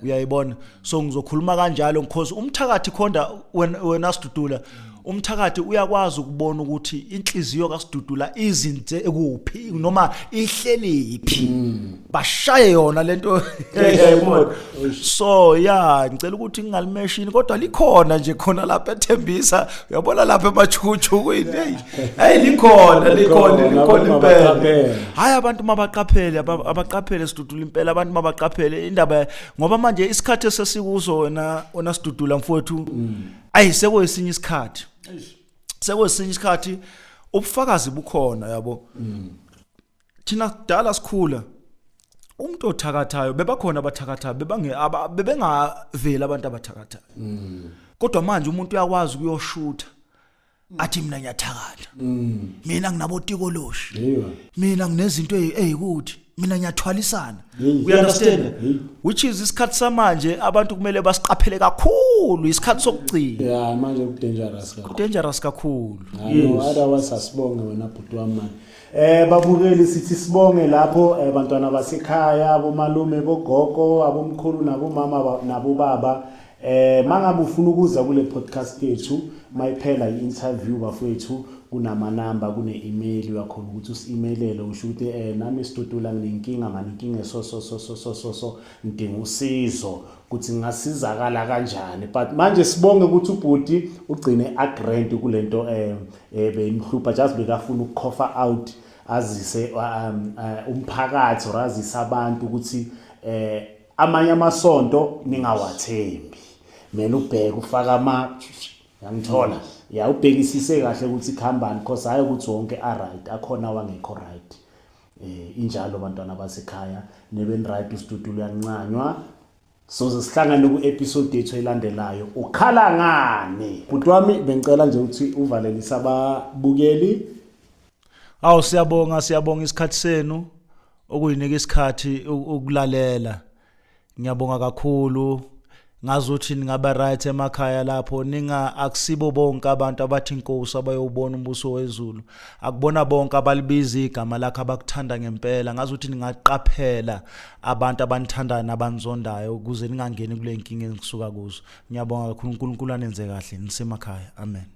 uyayibona so ngizokhuluma kanjalo because umthakathi khonda wena sidudula umthakathi uyakwazi ukubona ukuthi inhliziyo kasidudula izinze kuphi noma ihleliphi mm. bashaye yona lento so ya ngicela ukuthi ngingalimeshini kodwa likhona nje khona lapha ethembisa uyabona lapha emachuchu kuyini hayi likhona likhona likhona impela hayi abantu mabaqaphele abaqaphele sidudula impela abantu mabaqaphele indaba ngoba manje isikhathi esesikuzo wena ona sidudula mfowethu mm. ayi sekwesinye isikhathi sekwesinye isikhathi ubufakazi bukhona yabo mm. thina kudala sikhula umuntu othakathayo bebakhona abathakathayo bebange bebengaveli abantu abathakathayo mm. kodwa manje umuntu uyakwazi ukuyoshutha athi mina ngiyathakatha mina nginabotikoloshi Yiwa. mina nginezinto ey- eyikuthi mina ngiyathwalisana Yiyi. you understand Yiyi. which is isikhathi samanje abantu kumele basiqaphele kakhulu isikhathi sokugcina Ya manje ku dangerous
kakhulu. dangerous
kakhulu Hayo otherwise
asibonge wena bhuti wami manje. Eh babukeli sithi sibonge lapho eh, bantwana basekhaya abomalume bogogo abomkhulu nabomama ba- nabobaba Eh mangabe ufuna ukuza kule podcast yethu mayiphela i-interview bafowethu kunamanamba kune-email uyakhona ukuthi usi-emailele usho ukuthi eh nami sidudula nginenkinga mani inkinga esososososososo ngidinga usizo ukuthi ngingasizakala kanjani but manje sibonge ukuthi ubhuti ugcine agrand kule nto um eh, eh, beyimhlupha just bekafuna ukukhofa out azise um, eh, umphakathi or azise abantu ukuthi um amanye amasonto ningawathembi kumele ubheke ufaka ama yangithola ya ubhekisise kahle ukuthi khambani cause hayi ukuthi wonke a right akhona wangekho right eh injalo bantwana basekhaya neben right ustudio uyancanywa soze sihlangane ku-episode yethu elandelayo ukhala ngani bhuti wami bengicela nje ukuthi uvalelise ababukeli
Awu siyabonga siyabonga isikhathi senu okuyinika isikhathi ukulalela. Ngiyabonga kakhulu. Ngazi ukuthi ningaba right emakhaya lapho ninga akusibo bonke abantu abathi inkosi abayobona umbuso wezulu. Akubona bonke abalibiza igama lakhe abakuthanda ngempela. Ngazi ukuthi ningaqaphela abantu abanithandayo nabanizondayo ukuze ningangeni kule nkinga engisuka kuzo. Ngiyabonga kakhulu uNkulunkulu anenze kahle nisemakhaya. Amen.